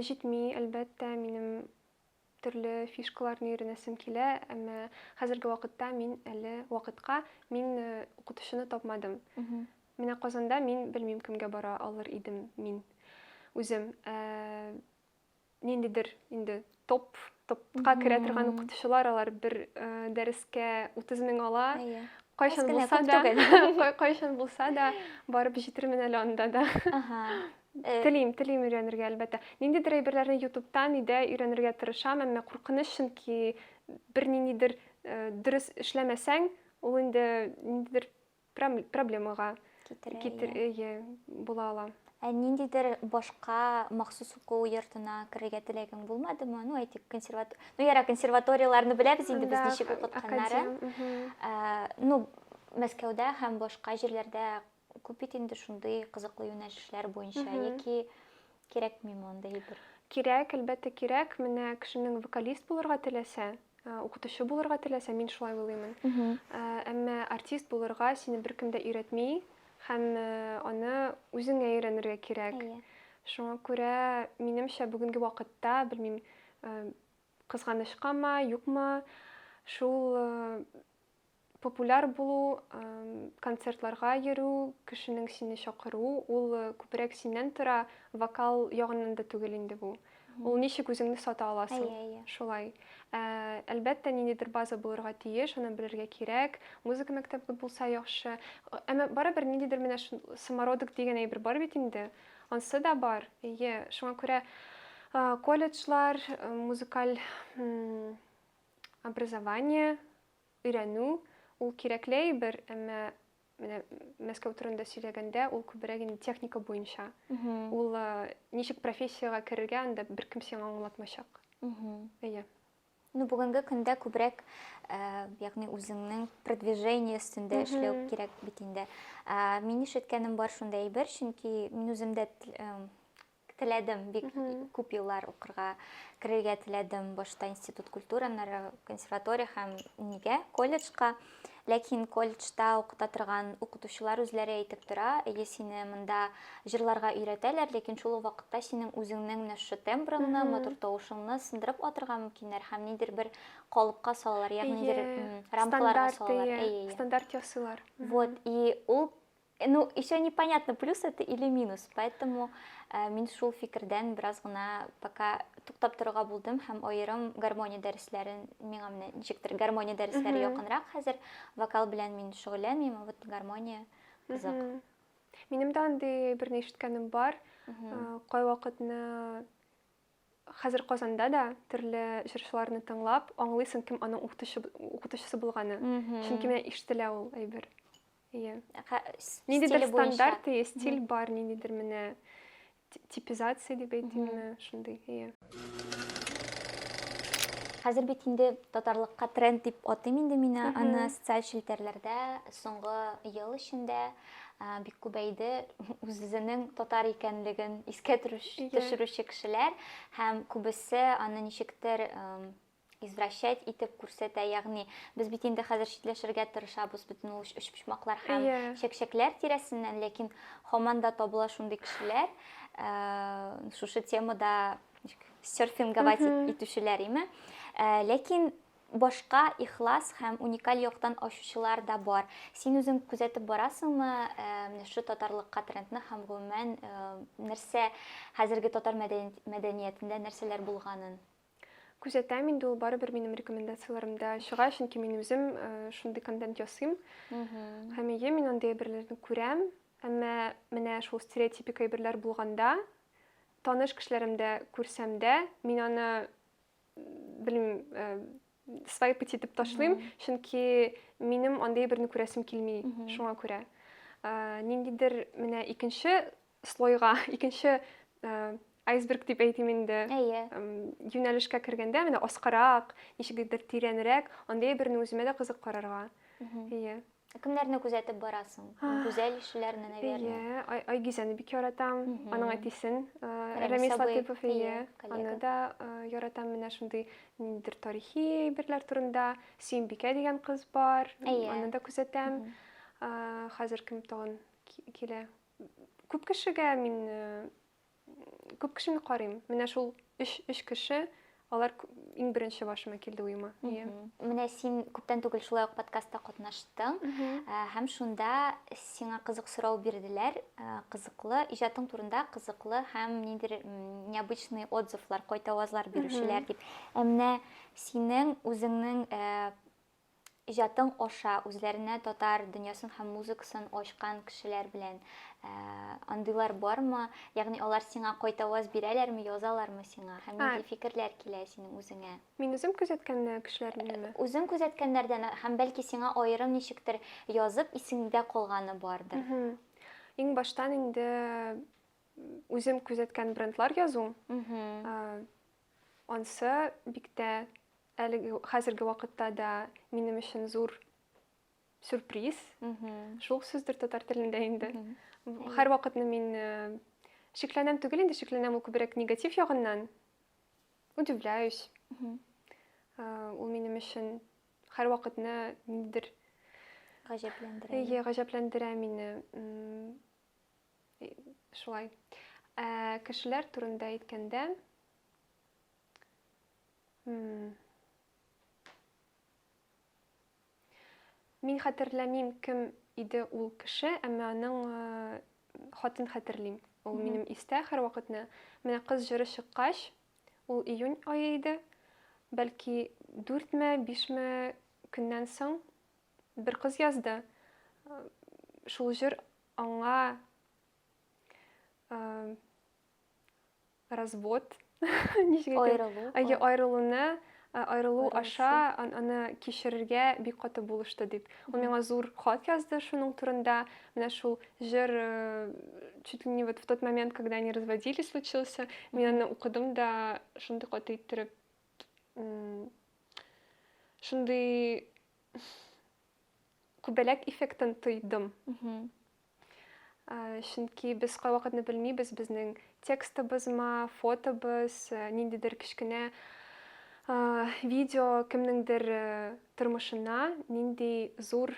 Җитми, әлбәттә, минем Төрле фишкаларны өйрәнәсем килә, әмма хәзерге вакытта мин әле вакытка мин э, укытучыны тапмадым. Менә Казанда мин белмим кемгә бара алыр идем мин үзем. Э, ниндидер инде топ топка керә торган укытучылар алар бер э, дәрескә 30 мең ала. Әйе. Кайчан булса да, кайчан булса да барып җитермен әле анда да. Э, Телим, телим өйрәнергә, әлбәттә. Ниндидер әйберләрне ютубтан өйдә өйрәнергә тырышам, әмма куркыныч, чөнки бер ниндидер э, дөрес эшләмәсәң, ул инде ниндидер проблемага китер, иә, була ала. Ә ниндидер башка махсус уку йортына керергә теләгең булмадымы? Ну, әйтик, консерватор... Ну, яра, консерваторияләрне беләбез инде без ничек укытканнарын. Э, ну, Мәскәүдә һәм башка җирләрдә Күп бит инде шундый кызыклы юнәлешләр буенча, яки кирәкми мондый әйбер? Кирәк, әлбәттә кирәк. Менә кешенең вокалист булырга теләсә, э, укытучы булырга теләсә, мин шулай уйлыймын. Э, әмма артист булырга сине беркем дә өйрәтми һәм э, аны үзеңә өйрәнергә кирәк. Әйе. Шуңа күрә, минемчә, бүгенге вакытта, белмим, кызганычкамы, юкмы, шул Популяр булу, концертларга йөрү, кешенең сине чакыру, ул күбрәк синнән тора, вокал ягыннан да түгел инде бу. Ул ничек үзеңне сата аласың? Әйе, әйе. Шулай. Ә, әлбәттә, ниндидер база булырга тиеш, аны белергә кирәк. Музыка мәктәбе булса яхшы. Әмма барыбер ниндидер менә шул самородок дигән әйбер бар бит инде. Ансы да бар. Әйе, шуңа күрә колледжлар, музыкаль Образование, өйрәнү, ул кирәкле әйбер, әмма менә Мәскәү турында сөйләгәндә, ул күбрәк инде техника буенча. Ул ничек профессиягә керергә, анда беркем сиңа аңлатмачак. Әйе. Ну, бүгенге көндә күбрәк, ягъни үзеңнең продвижение өстендә эшләү кирәк бит инде. Мин ишеткәнем бар шундый әйбер, чөнки мин үзем дә Теләдем, бик күп еллар укырга керергә теләдем, башта институт культура, аннары консерватория һәм нигә колледжка. Ләкин колледжда укыта торган укытучылар үзләре әйтеп тора, әйе сине монда җырларга өйрәтәләр, ләкин шул ук вакытта синең үзеңнең менә шушы тембрыңны, матур тавышыңны сындырып атырга мөмкиннәр һәм нидер бер калыпка салалар, ягъни нидер рамкаларга салалар. Стандарт ясыйлар. Вот, и ул Э, ну, еще непонятно, плюс это или минус, поэтому э, мин шул фикердән бераз гына пока туктап торырга булдым һәм аерым гармония дәресләрен миңа менә ничектер гармония дәресләре якынрак хәзер вокал белән мин шөгыльләнмим а вот гармония кызык минем дә андый берни ишеткәнем бар э, кайвакытны хәзер Казанда да төрле җырчыларны тыңлап, аңлыйсың, кем аның укытучысы булганы. Чөнки менә ишетелә ул әйбер. Иә. Ниндидер стандарт, иә, стиль бар, ниндидер менә типизация деп әйтимме, шундый, иә. Хәзер бит инде татарлыкка тренд дип атыйм инде мин аны социаль челтәрләрдә соңгы ел эчендә бик күбәйде үзенең татар икәнлеген искә төшерүче кешеләр һәм күбесе аны ничектер извращать итеп күрсәтә ягъни без бит инде хәзер читләшергә тырышабыз бөтен ул өчпочмаклар һәм yeah. Иә. чәкчәкләр тирәсеннән ләкин һаман да табыла шундый кешеләр ә, шушы темада серфинговать mm -hmm. итүчеләр име ә, ләкин башка ихлас һәм уникаль яктан ачучылар да бар син үзең күзәтеп барасыңмы ә, менә шу татарлыкка трендны һәм гомумән ә, нәрсә хәзерге татар мәдәниятендә нәрсәләр булганын Күзәтәм инде ул барыбер минем рекомендацияләремдә чыга, чөнки мин үзем э, шундый контент ясыйм. Һәм ие мин андый әйберләрне күрәм, әмма менә шул стереотипик әйберләр булганда, таныш кешеләремдә күрсәм дә, мин аны белмим, э, свайп итеп ташлыйм, чөнки минем андый әйберне күрәсем килми, шуңа күрә. Э, ниндидер менә икенче слойга, икенче айсберг дип әйтим инде. Әйе. Юнәлешкә кергәндә менә аскарак, ничегдер тирәнрәк, андый берне үземә дә кызык карарга. Әйе. Кемнәрне күзәтеп барасың? Гүзәл ишеләрне, наверное. Әйе, Айгизәне бик яратам. Аның әтисен, Рәмис Латыпов, әйе. Аны да яратам менә шундый ниндидер тарихи әйберләр турында. Сөембикә дигән кыз бар. Аны да күзәтәм. Хәзер кем тагын килә? Күп кешегә мин күп кешене карыйм. Менә шул өч өч кеше алар иң беренче башыма килде уема. Иә. Менә син күптән түгел шулай ук подкастта катнаштың һәм шунда сиңа кызык сорау бирделәр. Кызыклы иҗатың турында кызыклы һәм ниндер необычный отзывлар, кайтавазлар бирүчеләр дип. Ә менә синең үзеңнең Иҗатың аша үзләренә татар дөньясын һәм музыкасын ачкан кешеләр белән ә, андыйлар бармы? Ягъни алар сиңа кайтаваз бирәләрме, язалармы сиңа? Һәм Ә. нинди фикерләр килә синең үзеңә? Мин үзем күзәткән э, кешеләрнеме? Үзең күзәткәннәрдән һәм бәлки сиңа аерым ничектер язып исеңдә калганы бардыр. Мгм. Иң баштан инде м, үзем күзәткән брендлар язу. Мгм. Э, Ансы бик тә әлеге хәзерге вакытта да минем өчен зур сюрприз. Шул сүздер татар телендә инде. Һәр вакытны мин э, шикләнәм түгел инде, шикләнәм ул күбрәк негатив ягыннан. Удивляюсь. Э, ул минем өчен һәр вакытны ниндидер гаҗәпләндерә. Әйе, гаҗәпләндерә мине. Шулай. Ә, кешеләр турында әйткәндә, Мин хәтерләмим, кем иде ул кеше, әмма аның э, хатын хәтерлим. Ул минем истә һәрвакытны. Менә кыз җыры чыккач, ул июнь айы иде. Бәлки 4 ме, 5 ме көннән соң бер кыз язды. Э, шул җыр Аңа развод аерылу аерылуны аерылу аша аны кичерергә бик каты булышты дип ул миңа зур хат язды шуның турында менә шул җыр чуть ли не вот в тот момент когда они разводились случился мин аны укыдым да шундый каты иттереп шундый Күбәләк эффектын тойдым. Чөнки без кайвакытны белмибез, безнең текстыбызма, фотобыз, ниндидер кечкенә видео кемнеңдер тормышына нинди зур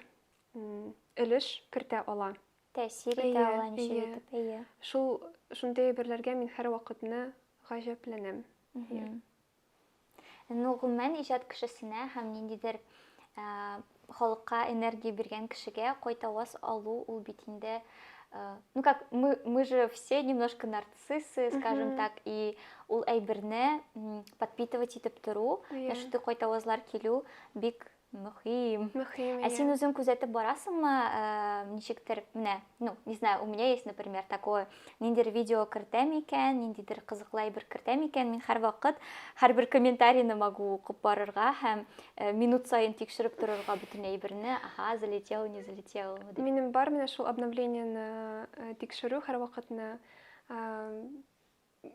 өлеш кертә ала. Тәэсир итә ала ничек итеп, әйе. Шул шундый әйберләргә мин һәрвакытны гаҗәпләнәм. Ну, гомумән, иҗат кешесенә һәм ниндидер халыкка энергия биргән кешегә кайтаваз алу ул бит инде ну как мы мы же все немножко нарциссы скажем так и ул әйберне подпитывать итеп тору яшүтү кайтавазлар килү бик Мөһим. Мөһим. Ә син үзең күзәтеп барасыңмы, э, ничектер, менә, ну, не знаю, у меня есть, например, такое, ниндидер видео кертәм икән, ниндидер кызыклы әйбер кертәм икән, мин һәрвакыт һәрбер комментарийны могу укып барырга һәм э, минут саен тикшереп торырга бөтен әйберне, ага, залетел, не залетел. Минем бар менә шул обновлениены э, тикшерү һәрвакытны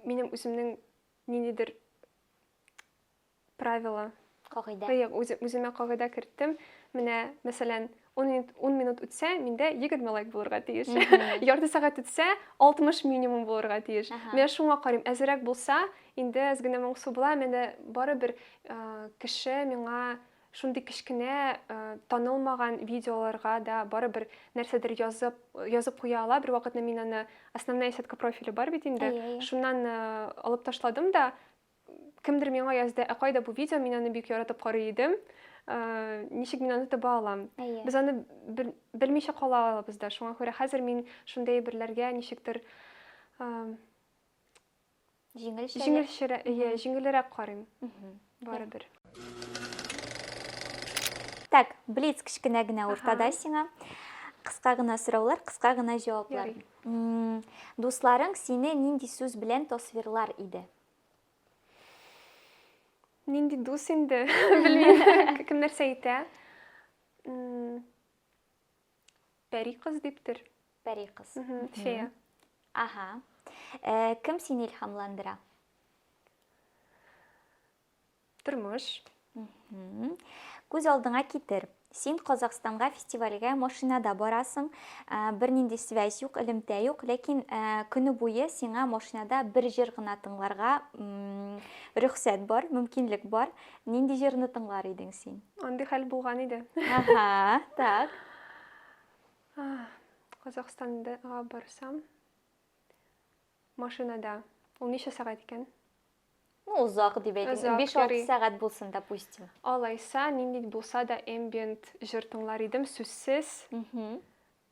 минем үземнең ниндидер правило. Кагыйдә. Ягъ, үзе, үземә кагыйдә керттем. Менә, мәсәлән, 10 минут, 10 минут үтсә, миндә 20 лайк булырга тиеш. Ярты сәгать үтсә, 60 минимум булырга тиеш. Менә шуңа карыйм, әзерәк булса, инде әз генә моңсу була, менә барыбер кеше миңа шундый кечкенә танылмаган видеоларга да барыбер нәрсәдер язып язып куя ала. Бер вакытны мин аны основная сетка профиля бар бит инде. Шуннан алып ташладым да, Кемдер миңа язды, ә кайда бу видео, мин аны бик яратып карый идем. Ә, ничек мин аны таба алам? Әйе. Без аны бел, белмичә кала алабыз да. Шуңа күрә хәзер мин шундый әйберләргә ничектер ә, Җиңелчә. җиңелчерә, әйе, җиңелрәк карыйм. Барыбер. Так, блиц кечкенә генә уртада Аха. сиңа. Кыска гына сораулар, кыска гына җаваплар. Ярый. М, Дусларың сине нинди сүз белән тасвирлар иде? Нинди дус инде, белмим, кем нәрсә әйтә. Пәри кыз диптер. Пәри кыз. Фея. Ага. Э, кем сине илһамландыра? Тормыш. Күз алдыңа китер. Син Казахстанга фестивальгә машинада барасың, ә, бернинди связь юк, элемтә юк, ләкин ә, көне буе сиңа машинада бер җыр гына тыңларга м, рөхсәт бар, мөмкинлек бар. Нинди җырны тыңлар идең син? Андый хәл булган иде. Ага, так. Ах, Казахстанга барсам, машинада. Ул ничә сәгать икән? Ну, озак дип әйтим. 5-6 сәгать булсын, допустим. Алайса, нинди булса да эмбиент җыр тыңлар идем, сүзсез.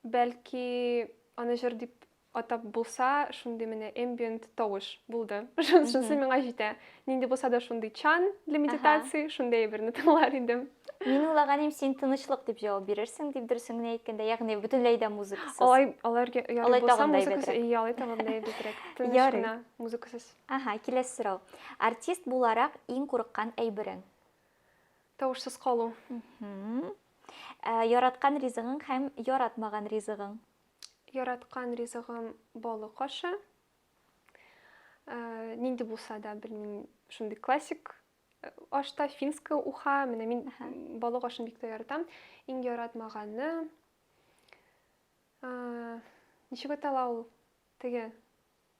Бәлки, аны җыр дип атап булса, шундый менә эмбиент тавыш булды. Шунысы миңа җитә. Нинди булса да шундый чан для медитации, шундый әйберне тыңлар идем. Мин уйлаганым, син тынычлык дип җавап бирерсең, дип дөресен генә әйткәндә, ягъни бөтенләй дә музыкасыз. Алай, аларга ярый булса, музыкасыз, ял итә гомләй бетрәк. Тыныч гына, музыкасыз. Аһа, киләсе сорау. Артист буларак иң курыккан әйберең? Тавышсыз калу. Яраткан ризыгың һәм яратмаган ризыгың? Яраткан ризыгым балык ашы. Нинди булса да, белмим, шундый классик ашта финская уха, менә мин балык ашын бик тә яратам. Иң яратмаганы ничек атала ул? Теге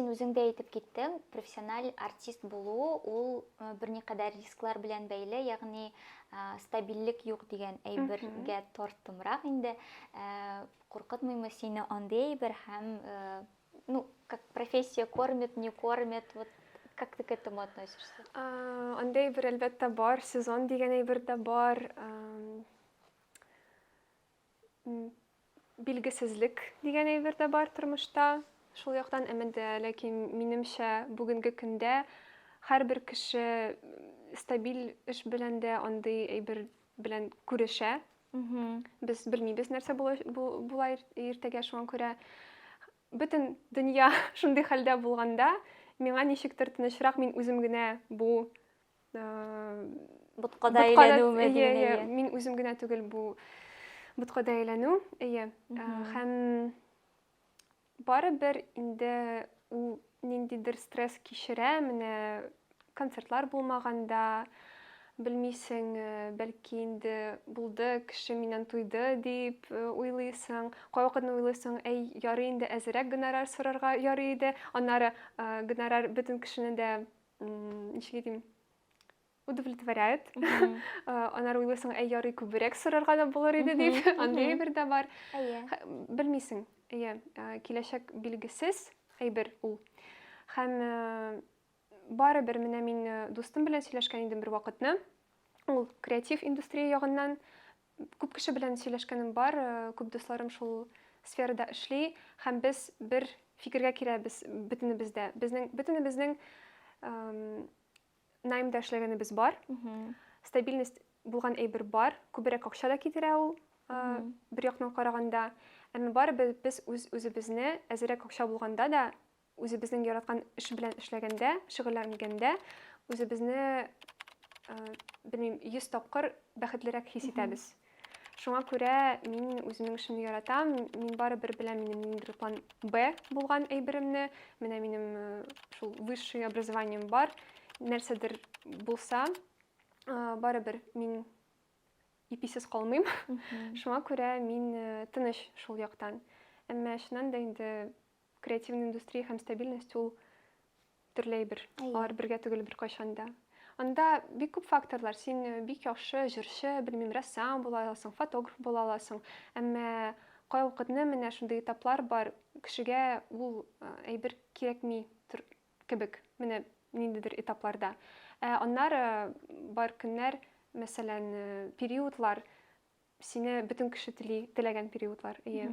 син үзең дә әйтеп киттең, профессиональ артист булу ул э, берникадәр рисклар белән бәйле, ягъни э, стабильлек юк дигән әйбергә торттымрак инде. Э, куркытмыймы сине андый әйбер һәм ну, как профессия кормит, не кормит, вот Как ты к этому относишься? Андый әйбер әлбәттә бар, сезон дигән әйбер дә бар. Билгесезлек дигән әйбер дә бар тормышта. Шул яктан әмән дә, ләкин минемчә, бүгенге көндә һәрбер кеше стабиль эш белән дә андый әйбер белән күрешә. Без белмибез нәрсә була, була иртәгә шуңа күрә бөтен дөнья шундый хәлдә булганда, миңа ничектер тынычрак мин үзем генә бу боткада әйләнүме дигән мин үзем генә түгел бу боткада әйләнү әйе һәм барыбер инде ул ниндидер стресс кичерә менә концертлар булмаганда белмисең бәлки инде булды кеше миннән туйды дип уйлыйсың кайвакытны уйлыйсың әй ярый инде әзерәк гонорар сорарга ярый иде аннары гонорар бөтен кешене дә ничек әйтим удовлетворяет анар уйлыйсың әй ярый күбрәк сорарга да булыр иде дип андый әйбер дә бар белмисең әйе киләчәк билгесез әйбер ул һәм барыбер менә мин дустым белән сөйләшкән идем бер вакытны ул креатив индустрия ягыннан Күп кеше белән сөйләшкәнем бар, күп дусларым шул сферада эшли һәм без бер фикергә киләбез бөтенебез дә. Безнең бөтенебезнең наймда эшләгәнебез бар. Стабильность булган әйбер бар. Күбрәк акча да китерә ул бер яктан караганда. Әмма барыбер без үз үзебезне әзерәк акча булганда да Үзебезнең яраткан эш белән эшләгәндә, шөгыльләнгәндә, үзебезне, белмим, 100 тапкыр бәхетлерәк хис итәбез. Шуңа күрә мин үземнең эшемне яратам, мин барыбер беләм минем ниндидер план Б булган әйберемне, менә минем э, шул высшее образованием бар, нәрсәдер булса, э, барыбер мин иписез калмыйм. Шуңа күрә мин э, тыныч шул яктан. Әмма чыннан да инде Креативный индустрия һәм стабильность ул төрле әйбер. Алар бергә түгел беркайчан да. Анда бик күп факторлар. Син э, бик яхшы җырчы, белмим, рәссам була аласың, фотограф була аласың. Әмма кайвакытны менә шундый этаплар бар, кешегә ул э, әйбер кирәкми кебек. Менә ниндидер этапларда. Ә аннары бар көннәр, мәсәлән, э, периодлар, сине бөтен кеше тели, теләгән периодлар. Ие.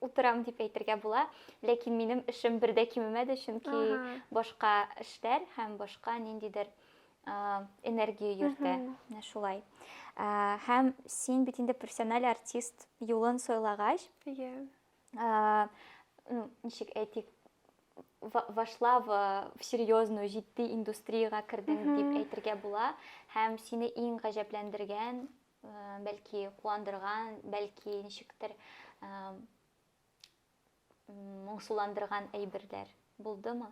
утырам дип әйтергә була. Ләкин минем эшем бер дә кимемәде, чөнки ага. башка эшләр һәм башка ниндидер энергия йөртә. Менә шулай. Һәм син бит инде профессиональ артист юлын сайлагач, yeah. ну, ничек әйтик, вошла в, в серьезную җитди индустриягә кердең дип әйтергә була һәм сине иң гаҗәпләндергән бәлки куандырган, бәлки ничектер моңсуландырган әйберләр булдымы?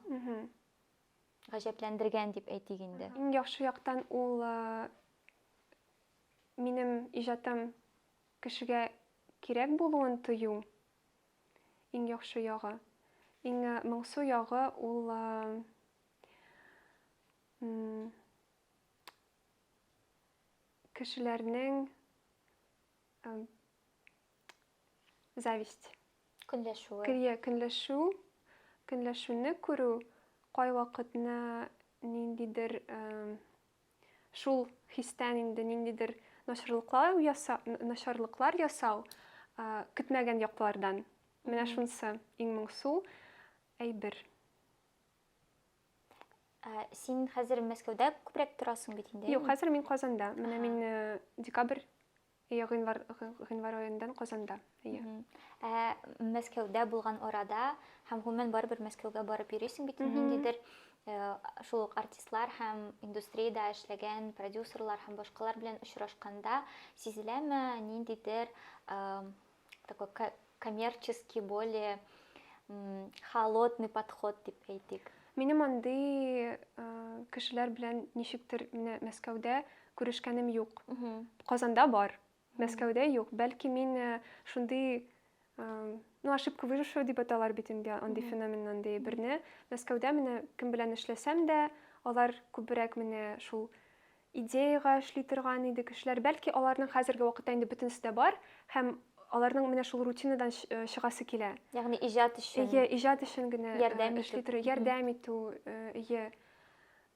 Гаҗәпләндергән дип әйтик инде. Иң яхшы яктан ул минем иҗатым кешегә кирәк булуын тою. Иң яхшы ягы. Иң моңсу ягы ул кешеләрнең эм, зависть Көнләшүе. Көнлә, көнләшү, көнләшүне күрү кайвакытны ниндидер эм, шул хистән инде ниндидер начарлыклар яса, н- начарлыклар ясау а, көтмәгән яклардан. Менә шунысы иң моңсу әйбер. Ә, син хәзер Мәскәүдә күбрәк торасың бит инде. Юк, хәзер мин Казанда. Менә мин э, декабрь я гыйнвар гыйнвар аендан Казанда. Иә. Ә Мәскәүдә булган арада һәм гомумән барыбер Мәскәүгә барып йөрисең бит ниндидер э, шул ук артистлар һәм индустриядә эшләгән продюсерлар һәм башкалар белән очрашканда сизеләме ниндидер э, такой коммерческий более холодный подход дип әйтик минем андый кешеләр белән ничектер менә мәскәүдә күрешкәнем юк казанда бар мәскәүдә юк бәлки мин шундый ну ошибка выжившего дип аталар бит инде андый феномен андый берне мәскәүдә менә кем белән эшләсәм дә алар күбрәк менә шул идеягә эшли торган иде кешеләр. Бәлки, аларның хәзерге вакытта инде бөтенесе дә бар һәм аларның менә шул рутинадан э, чыгасы килә. Ягъни иҗат өчен. Әйе, иҗат өчен генә э, ярдәм эшли итү. тору, ярдәм итү, э, әйе.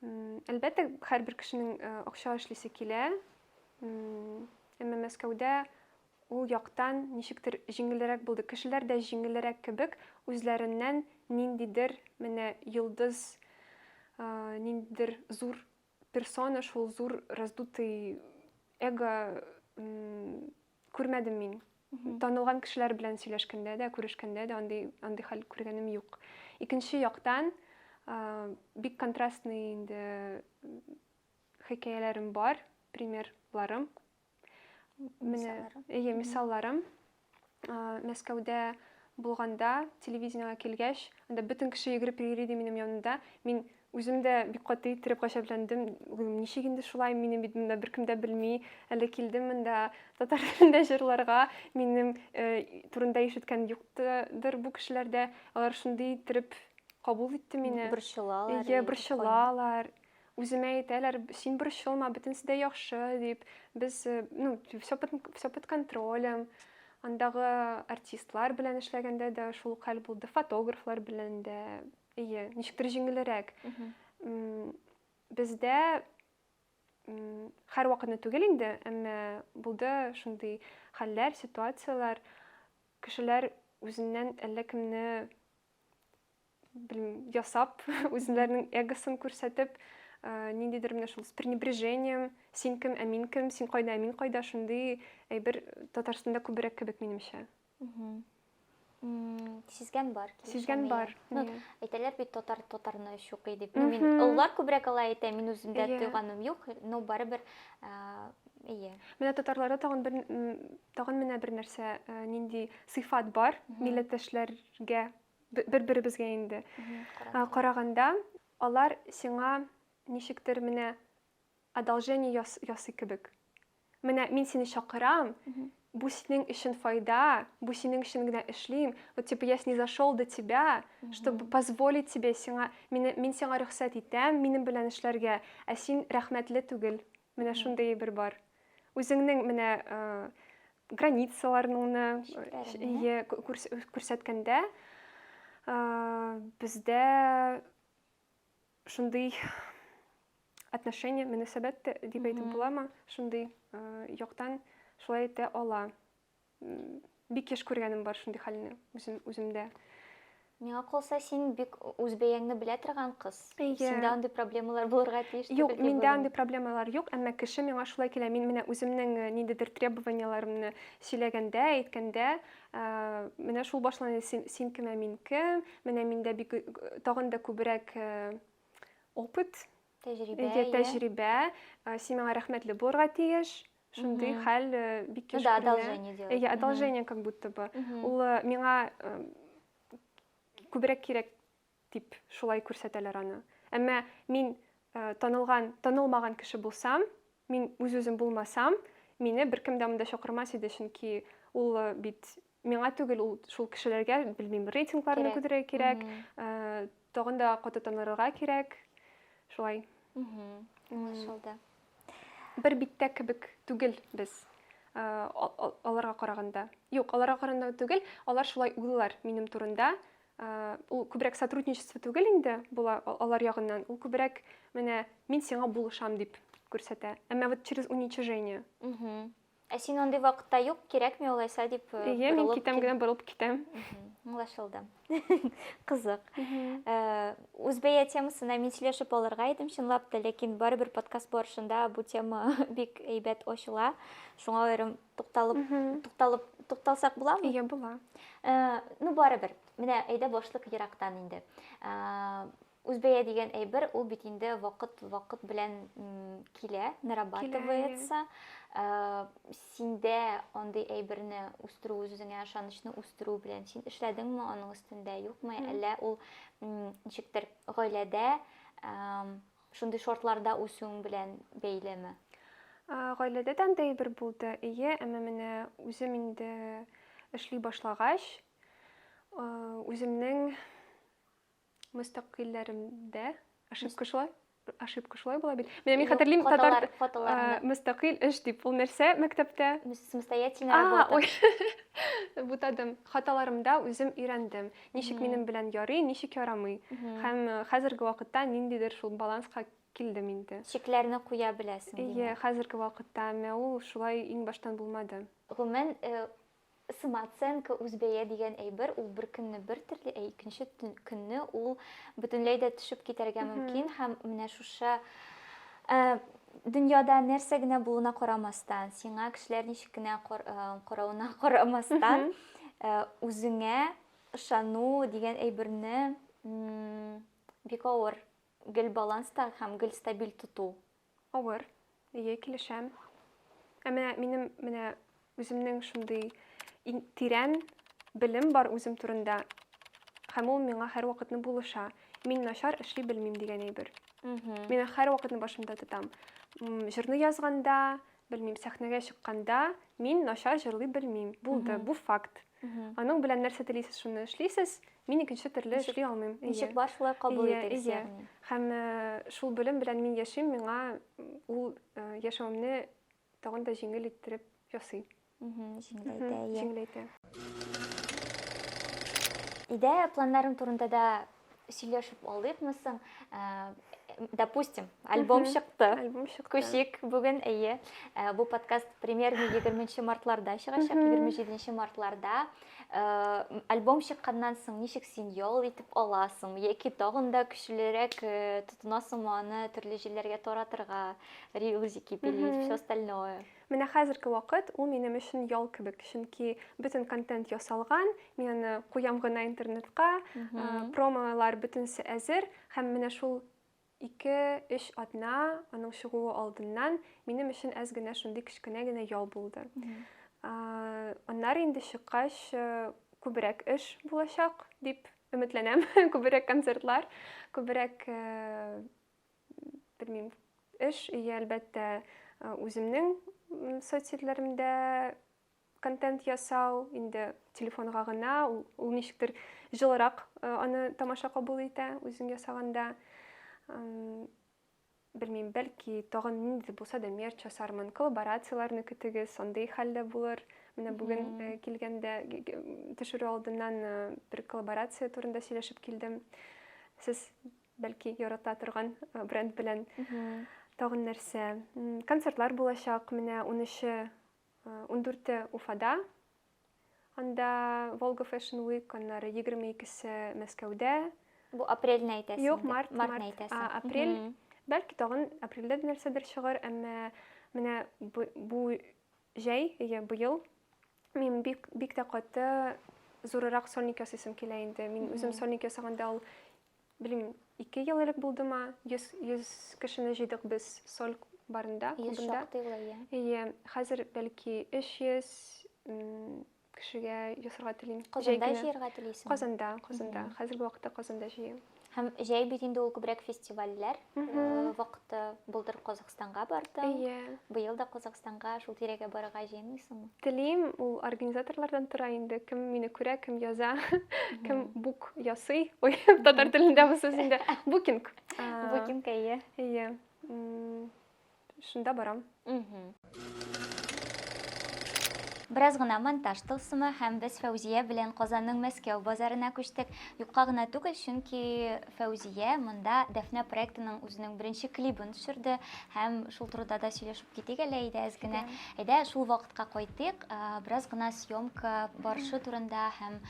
М, Әлбәттә, һәрбер кешенең э, акча эшлисе килә. М, Әмма Мәскәүдә ул яктан ничектер җиңелрәк булды. Кешеләр дә җиңелрәк кебек үзләреннән ниндидер менә йолдыз, э, ниндидер зур персона, шул зур раздутый эго күрмәдем мин. Танылган кешеләр белән сөйләшкәндә дә, күрешкәндә дә андый андый хәл күргәнем юк. Икенче яктан, бик контрастный инде хикәяләрем бар, примерларым Менә, әйе, мисалларым. Мәскәүдә булганда, телевидениегә килгәч, анда бөтен кеше йөгереп йөри иде минем янымда. Мин үзем дә бик каты иттереп гаҗәпләндем. Ничек инде шулай, мине бит монда беркем дә белми. Әле килдем монда татар телендә җырларга. Минем э, турында ишеткән юктыр бу кешеләрдә. Алар шундый иттереп кабул итте мине. Борчылалар. Әйе, борчылалар. Үземә әйтәләр, син борчылма, бөтенесе дә яхшы, дип. Без, ну, все под, все под контролем. Андагы артистлар белән эшләгәндә дә шул ук хәл булды, фотографлар белән дә. Әйе, ничектер җиңелрәк. Бездә һәрвакытны түгел инде, әмма булды шундый хәлләр, ситуацияләр, кешеләр үзеннән әллә кемне белмим, ясап, үзләренең эгосын күрсәтеп, э, ниндидер менә шул с пренебрежением, син кем, ә мин кем, син кайда, ә мин кайда, шундый әйбер Татарстанда күбрәк кебек минемчә. М, Сизгән бар. килешәм Сизгән миңа. бар. Ну, Иә. әйтәләр бит татар татарны чукый дип. Ну, мин Мгм. олылар күбрәк алай әйтә, мин үземдә Иә. тойганым юк, но барыбер а, ие. Менә татарларда тагын бер м, тагын менә бер нәрсә, э, нинди сыйфат бар, Мгм. милләттәшләргә бер беребезгә инде караганда алар сиңа ничектер менә одолжение яс, ясый кебек менә мин сине чакырам бу синең өчен файда бу синең өчен генә эшлим вот типа я снизошел до тебя чтобы позволить тебе сиңа мин сиңа рөхсәт итәм минем белән эшләргә ә син рәхмәтле түгел Менә шундый әйбер бар. Үзеңнең менә границаларыңны ие күрсәткәндә бездә шундый отношение, мөнәсәбәт дип әйтеп буламы, шундый яктан шулай итә ала. бик еш күргәнем бар шундый хәлне үзем үземдә миңа калса син бик үзбәяңне белә торган кыз yeah. синдә андый проблемалар булырга тиеш юк миндә андый проблемалар юк әмма кеше миңа шулай килә мин менә үземнең э, ниндидер требованияләремне сөйләгәндә әйткәндә э, менә шул башланды син, син кемә мин кем менә миндә бик э, тагын да күбрәк опыт Тәҗрибә. Әйе, тәҗрибә. Син миңа рәхмәтле булырга тиеш. Шундый хәл бик кеш күренә. Да, одолжение делать. Әйе, одолжение как будто бы. Ул миңа күбрәк кирәк дип шулай күрсәтәләр аны. Әмма мин танылган, танылмаган кеше булсам, Мин үз-үзем булмасам, мине беркем дә монда чакырмас иде, чөнки ул бит миңа түгел, ул шул кешеләргә, белмим, рейтингларны күтәрергә кирәк, тагын да каты танырга кирәк. Шулай. Аңлашылды. Бер биттә кебек түгел без аларга караганда. Юк, аларга караганда түгел, алар шулай уйлар минем турында, Э, ул күбрәк сотрудничество түгел инде була алар ягыннан ул күбрәк менә мин сиңа булышам дип күрсәтә әмма вот через уничижение ә син андый вакытта юк кирәкми алайса дип э, иә мин китәм генә борылып китәм аңлашылды кызык э, үзбәя темасына мин сөйләшеп алырга идем чынлап та ләкин барыбер подкаст барышында бу тема бик әйбәт ачыла шуңа аерым тукталып тукталып тукталсак буламы иә була э, ну барыбер менә әйдә башлык ерактан инде э, үзбәя дигән әйбер ул бит инде вакыт вакыт белән килә нарабатывается э, синдә андый әйберне үстерү үзеңә ышанычны үстерү белән син эшләдеңме аның өстендә юкмы әллә ул ничектер гаиләдә Шундый шартларда үсүең белән бәйлеме? Гаиләдә дә андый әйбер булды, эйе, әмма менә үзем инде эшли башлагач, үземнең мөстәкыйльләремдә ошибка шулай ошибка шулай була бит. Менә мин хәтерлим татар мөстәкыйль эш дип. Ул нәрсә мәктәптә? Самостоятельная работа. Бутадым. Хаталарымда үзем өйрәндем. Ничек минем белән ярый, ничек ярамый. Һәм хәзерге вакытта ниндидер шул баланска килдем инде. Чикләрне куя беләсең. Ие, хәзерге вакытта, әмма ул шулай иң баштан булмады. Гомумән, самооценка, үзбәя дигән әйбер, ул бер көнне бер төрле, ә икенче көнне ул бөтенләй дә төшеп китәргә мөмкин һәм менә шушы дөньяда нәрсә генә булуына карамастан, сиңа кешеләр ничек кенә каравына карамастан, Үзеңә ышану дигән әйберне бик авыр гел баланста һәм гел стабиль тоту. Авыр, әйе, килешәм. Ә менә минем менә үземнең шундый тирән белем бар үзем турында һәм ул миңа һәрвакытны булыша. Мин начар эшли белмим дигән әйбер. Мин һәрвакытны башымда тотам. Җырны язганда, Белмим, сәхнәгә чыкканда мин начар җырлый белмим. Булды, бу факт. Аның белән нәрсә телисез, шуны эшлисез. Мин икенче төрле эшли алмыйм. Ничек бар, шулай кабул итегез, ягъни. Һәм шул белем белән мин яшим, миңа ул яшәвемне тагын да җиңел иттереп ясый. Җиңеләйтә, ия. Җиңеләйтә. Өйдә планнарың турында да сөйләшеп алдыкмы соң? Допустим, альбом чыкты. Альбом чыкты. Күчик бүген, әйе. Бу подкаст премьерный 20 мартларда чыгачак, 27 мартларда. Альбом чыкканнан соң ничек син ял итеп аласың? Яки тагын да көчлерәк тотынасыңмы аны төрле җилләргә таратырга, релизики пилить, все остальное? Менә хәзерге вакыт ул минем өчен ял кебек, чөнки бөтен контент ясалган, мин аны куям гына интернетка, промолар бөтенесе әзер, һәм менә шул ике-өч атна аның чыгуы алдыннан минем өчен әз генә шундый кечкенә генә ял булды. Аннары инде чыккач күбрәк эш булачак дип өметләнәм, күбрәк концертлар, күбрәк белмим, эш, и, әлбәттә, үземнең соцсетьләремдә контент ясау, инде телефонга гына, ул ничектер җылырак аны тамаша кабул итә, үзең ясаганда. Белмим, бәлки, тагын нинди булса да мерч ясармын, коллаборацияләрне көтегез, андый хәл дә булыр. Менә бүген килгәндә, төшерү алдыннан бер коллаборация турында сөйләшеп килдем. Сез Бәлки ярата торган бренд белән тагын нәрсә. Концертлар булачак, менә 13-е, 14-е Уфада. Анда Volga Fashion Week, аннары 22-се Мәскәүдә. Бу апрельне әйтәсең. Юк, март, март. Әйтәсең. А, апрель. Mm -hmm. Бәлки тагын апрельдә нәрсәдер чыгар, әмма менә бу, бу җәй, я быел мин бик бик тә каты зурырак сольник ясыйсым килә инде. Мин mm -hmm. үзем сольник ясаганда ул Белмим, ике ел элек булдымы, 100, 100 кешене җыйдык без Соль барында, клубында. Ие, хәзер бәлки 300 кешегә ясарга телим. Казанда җыярга телисең? Казанда, Казанда. Хәзерге вакытта Казанда җыям. Һәм җәй бит инде ул күбрәк фестивальләр вакыты булдыр Казахстан. Казахстанга бардың. Әйе. Быел да Казахстанга, шул тирәгә барырга җыенмыйсыңмы? Телим, ул организаторлардан тора инде. Кем мине күрә, кем яза, кем бук ясый. Ой, татар телендә бу сүз инде. Букинг. Букинг, әйе. Әйе. Шунда барам. Бераз гына монтаж тылсымы һәм без Фәүзия белән Казанның Мәскәү базарына күчтек. Юкка гына түгел, чөнки Фәүзия монда Дәфнә проектының үзенең беренче клибын төшерде һәм шул турыда да сөйләшеп китик әле әйдә әз генә. Әйдә шул вакытка кайтыйк, бераз гына съемка барышы турында һәм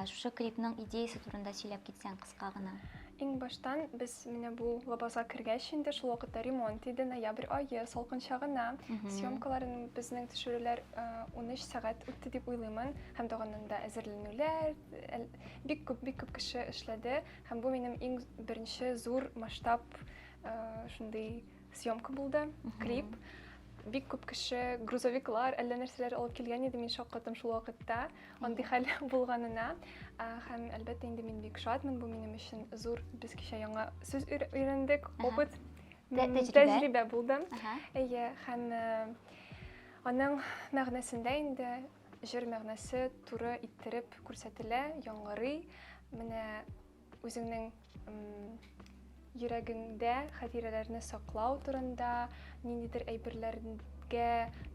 шушы клипның идеясе турында сөйләп китсәң кыска гына. Иң баштан без менә бу лабазга кергәч инде шул вакытта ремонт иде, ноябрь ае, салкынча гына. Съемкаларын безнең төшерүләр 13 сәгать үтте дип уйлыймын. Һәм дә анда әзерләнүләр, бик күп, бик күп кеше эшләде. Һәм бу минем иң беренче зур масштаб э, шундый съемка булды, клип. Бик күп кеше грузовиклар, әллә нәрсәләр алып килгән иде, мин шаккатым шул вакытта. Андый хәл булганына. Ә, Һәм әлбәттә инде мин бик шатмын, бу минем өчен зур. Без кичә яңа сүз өйр- өйрәндек, Ага. опыт, Тә- м, тәҗрибә. тәҗрибә булды. Ага. Әйе, һәм э, аның мәгънәсендә инде Җыр мәгънәсе туры иттереп күрсәтелә, яңгырый. Менә үзеңнең йөрәгеңдә хатирәләрне саклау турында, ниндидер әйберләргә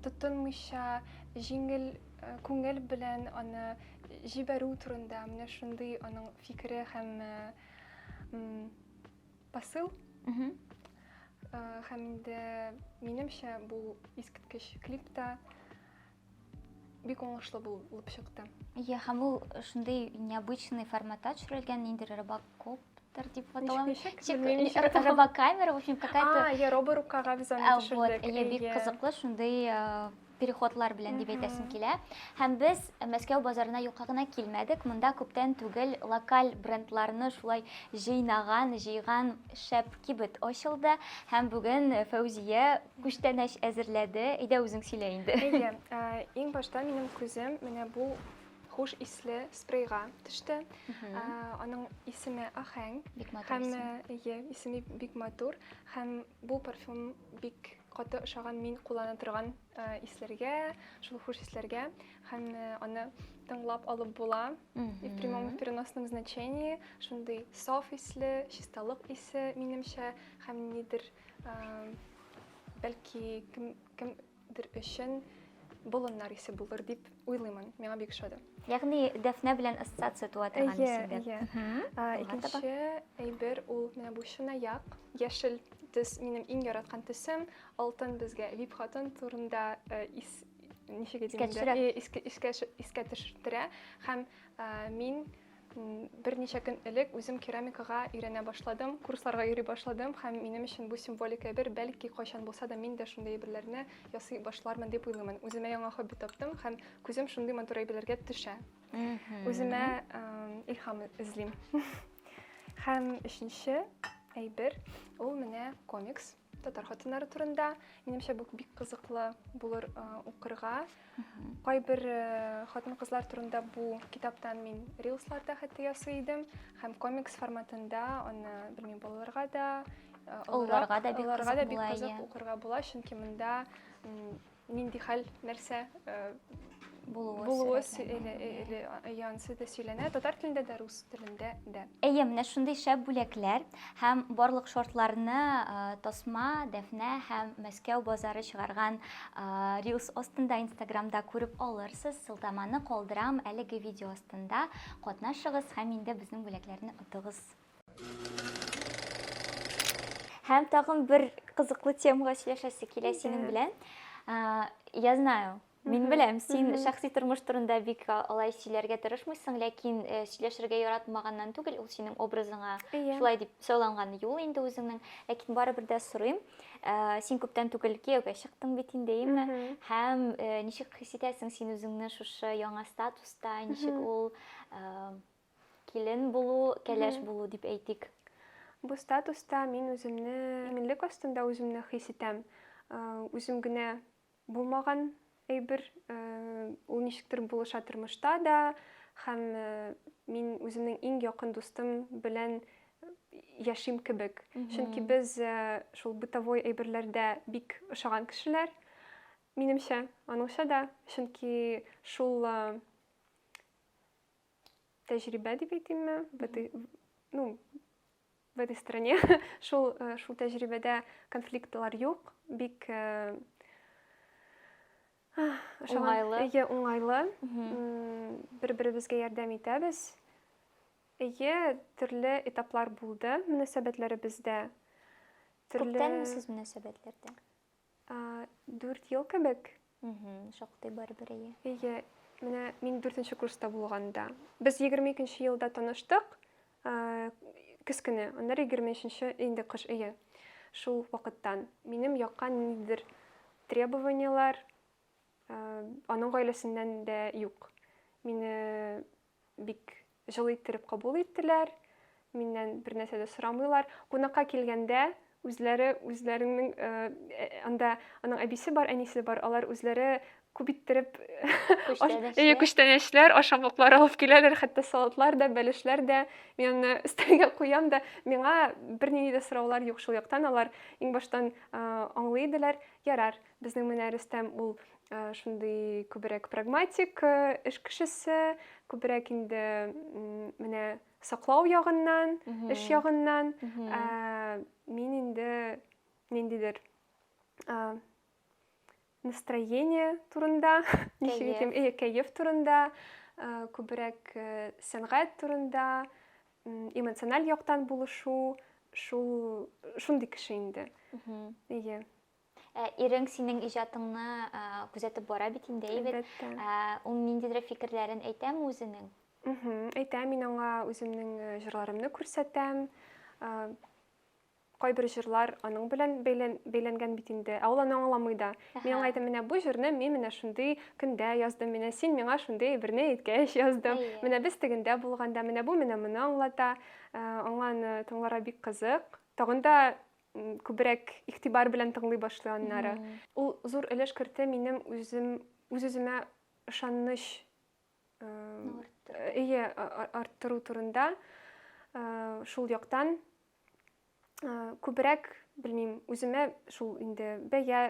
тотынмыйча, җиңел күңел белән аны җибәрү турында, менә шундый аның фикере һәм посыл. Һәм инде минемчә бу искиткеч клип та бик уңышлы булып чыкты. Иә, һәм ул шундый необычный форматта төшерелгән, ниндер робокоп дип аталган. Робокамера, в общем, какая-то... А, я роборукага без аны төшердек. Иә, бик кызыклы, шундый переходлар белән дип әйтәсем килә. Һәм без Мәскәү базарына юкка гына килмәдек. Монда күптән түгел локаль брендларны шулай җыйнаган, җыйган шәп кибет ачылды. Һәм бүген Фәүзия Күчтәнәч әзерләде. Әйдә үзең сөйлә инде. Әйдә, иң башта минем күзем менә бу хуш исле спрейга төште. Аның исеме Ахәң. Бик матур һәм, исем. Әйе, исеме бик матур һәм бу парфюм бик каты ошаган мин куллана торган исләргә, шул хуш исләргә һәм аны тыңлап алып була. И в прямом и в переносном значении шундый саф исле, чисталык исе минемчә һәм нидер Бәлки кем кемдер өчен болыннар исе булыр дип уйлыймын. Миңа бик ошады. Ягъни Дәфнә белән ассоциация туа торган исемдә. Әйе, әйе. Икенче әйбер ул менә бу чынаяк, яшел төс минем иң яраткан төсем. Алтын безгә Вип хатын турында э, ис ничек искә төшерә һәм э, мин Берничә көн элек үзем керамикага өйрәнә башладым, курсларга йөри башладым һәм минем өчен бу символик әйбер, бәлки кайчан булса да мин дә шундый әйберләрне ясый башлармын дип уйлыймын. Үземә яңа хобби таптым һәм күзем шундый матур әйберләргә төшә. Үземә илһам эзлим. Һәм өченче әйбер, ул менә комикс. татар хатыннары турында. Минемчә, бу бик кызыклы булыр укырга. Кайбер хатын-кызлар турында бу китаптан мин рилсларда хәтта ясый идем, һәм комикс форматында аны, белмим, балаларга да, оларга да бик кызык була, чөнки монда Нинди хәл, нәрсә булуы, булуы янсы да сөйләнә, татар телендә дә, рус телендә дә. Әйе, менә шундый шәп бүләкләр һәм барлык шортларны Тасма, Дәфнә һәм Мәскәү базары чыгарган рилс астында инстаграмда күреп алырсыз. Сылтаманы калдырам әлеге видео астында. Катнашыгыз һәм инде безнең бүләкләрне отыгыз. Һәм тагын бер кызыклы темага сөйләшәсе килә синең белән. Я знаю, Мин беләм, син шәхси тормыш турында бик алай сөйләргә тырышмыйсың, ләкин э, сөйләшергә яратмаганнан түгел, ул синең образыңа шулай дип сайланган юл инде үзеңнең. Ләкин барыбер дә сорыйм, э, син күптән түгел кияүгә чыктың бит инде, әйеме? Һәм э, ничек хис итәсең син үзеңне шушы яңа статуста, ничек ул Килен булу, кәләш булу дип әйтик. Бу статуста мин үземне иминлек астында үземне хис итәм. Үзем генә булмаган әйбер, ул ничектер булыша тормышта да, һәм мин үземнең иң якын дустым белән яшим кебек. Чөнки без шул бытовой әйберләрдә бик ошаган кешеләр, минемчә, аныңча да, чөнки шул тәҗрибә дип әйтимме ну в этой стране шул э, шул тәҗрибәдә конфликтлар юк бик э, уңайлы әйе уңайлы бер беребезгә ярдәм итәбез әйе төрле этаплар булды мөнәсәбәтләребездә төрле күптәнме сез мөнәсәбәтләрдә Дүрт ел кебек. Шактый барыбер әйе. Әйе, менә мин дүртенче курста булганда. Без 22 елда таныштык, көз көне, аннары 23 инде кыш өе. Шул вакыттан минем якка ниндидер требованияләр аның гаиләсеннән дә юк. Мине бик җылы иттереп кабул иттеләр, миннән бер нәрсә дә сорамыйлар. Кунакка килгәндә үзләре үзләренең э, э, анда аның әбисе бар, әнисе бар, алар үзләре күп иттереп э, күчтәнәчләр, ашамлыклар алып киләләр, хәтта салатлар да, бәлешләр дә. Мин аны өстәлгә куям да, миңа бернинди дә сораулар юк шул яктан. Алар иң баштан аңлый иделәр. Ярар, Безнең менә Рөстәм ул шундый күбрәк прагматик эш кешесе, күбрәк инде менә саклау ягыннан, эш ягыннан. Мин инде ниндидер настроение турында, ничек итим, э, кәеф турында, күбрәк сәнгать турында, эмоциональ яктан булышу, шул шундый кеше инде. Ие. Ә ирең синең иҗатыңны күзәтеп бара бит инде, әйбәт. Әлбәттә. Ул ниндидер фикерләрен әйтәме үзенең? Әйтә, мин аңа үземнең җырларымны күрсәтәм. Кайбер җырлар аның белән бәйләнгән бит инде, ә ул аны аңламый да. Мин аңа әйтәм, менә бу җырны мин менә шундый көндә яздым, менә син миңа шундый әйберне әйткәч яздым, менә без тегендә булганда, менә бу менә моны аңлата. Аңа аны тыңларга бик кызык. Тагын да күбрәк игътибар белән тыңлый башлый аннары. Ул зур өлеш кертә минем үзем үз-үземә ышаныч ие арттыру турында шул яктан күбрәк белмим үземә шул инде бәя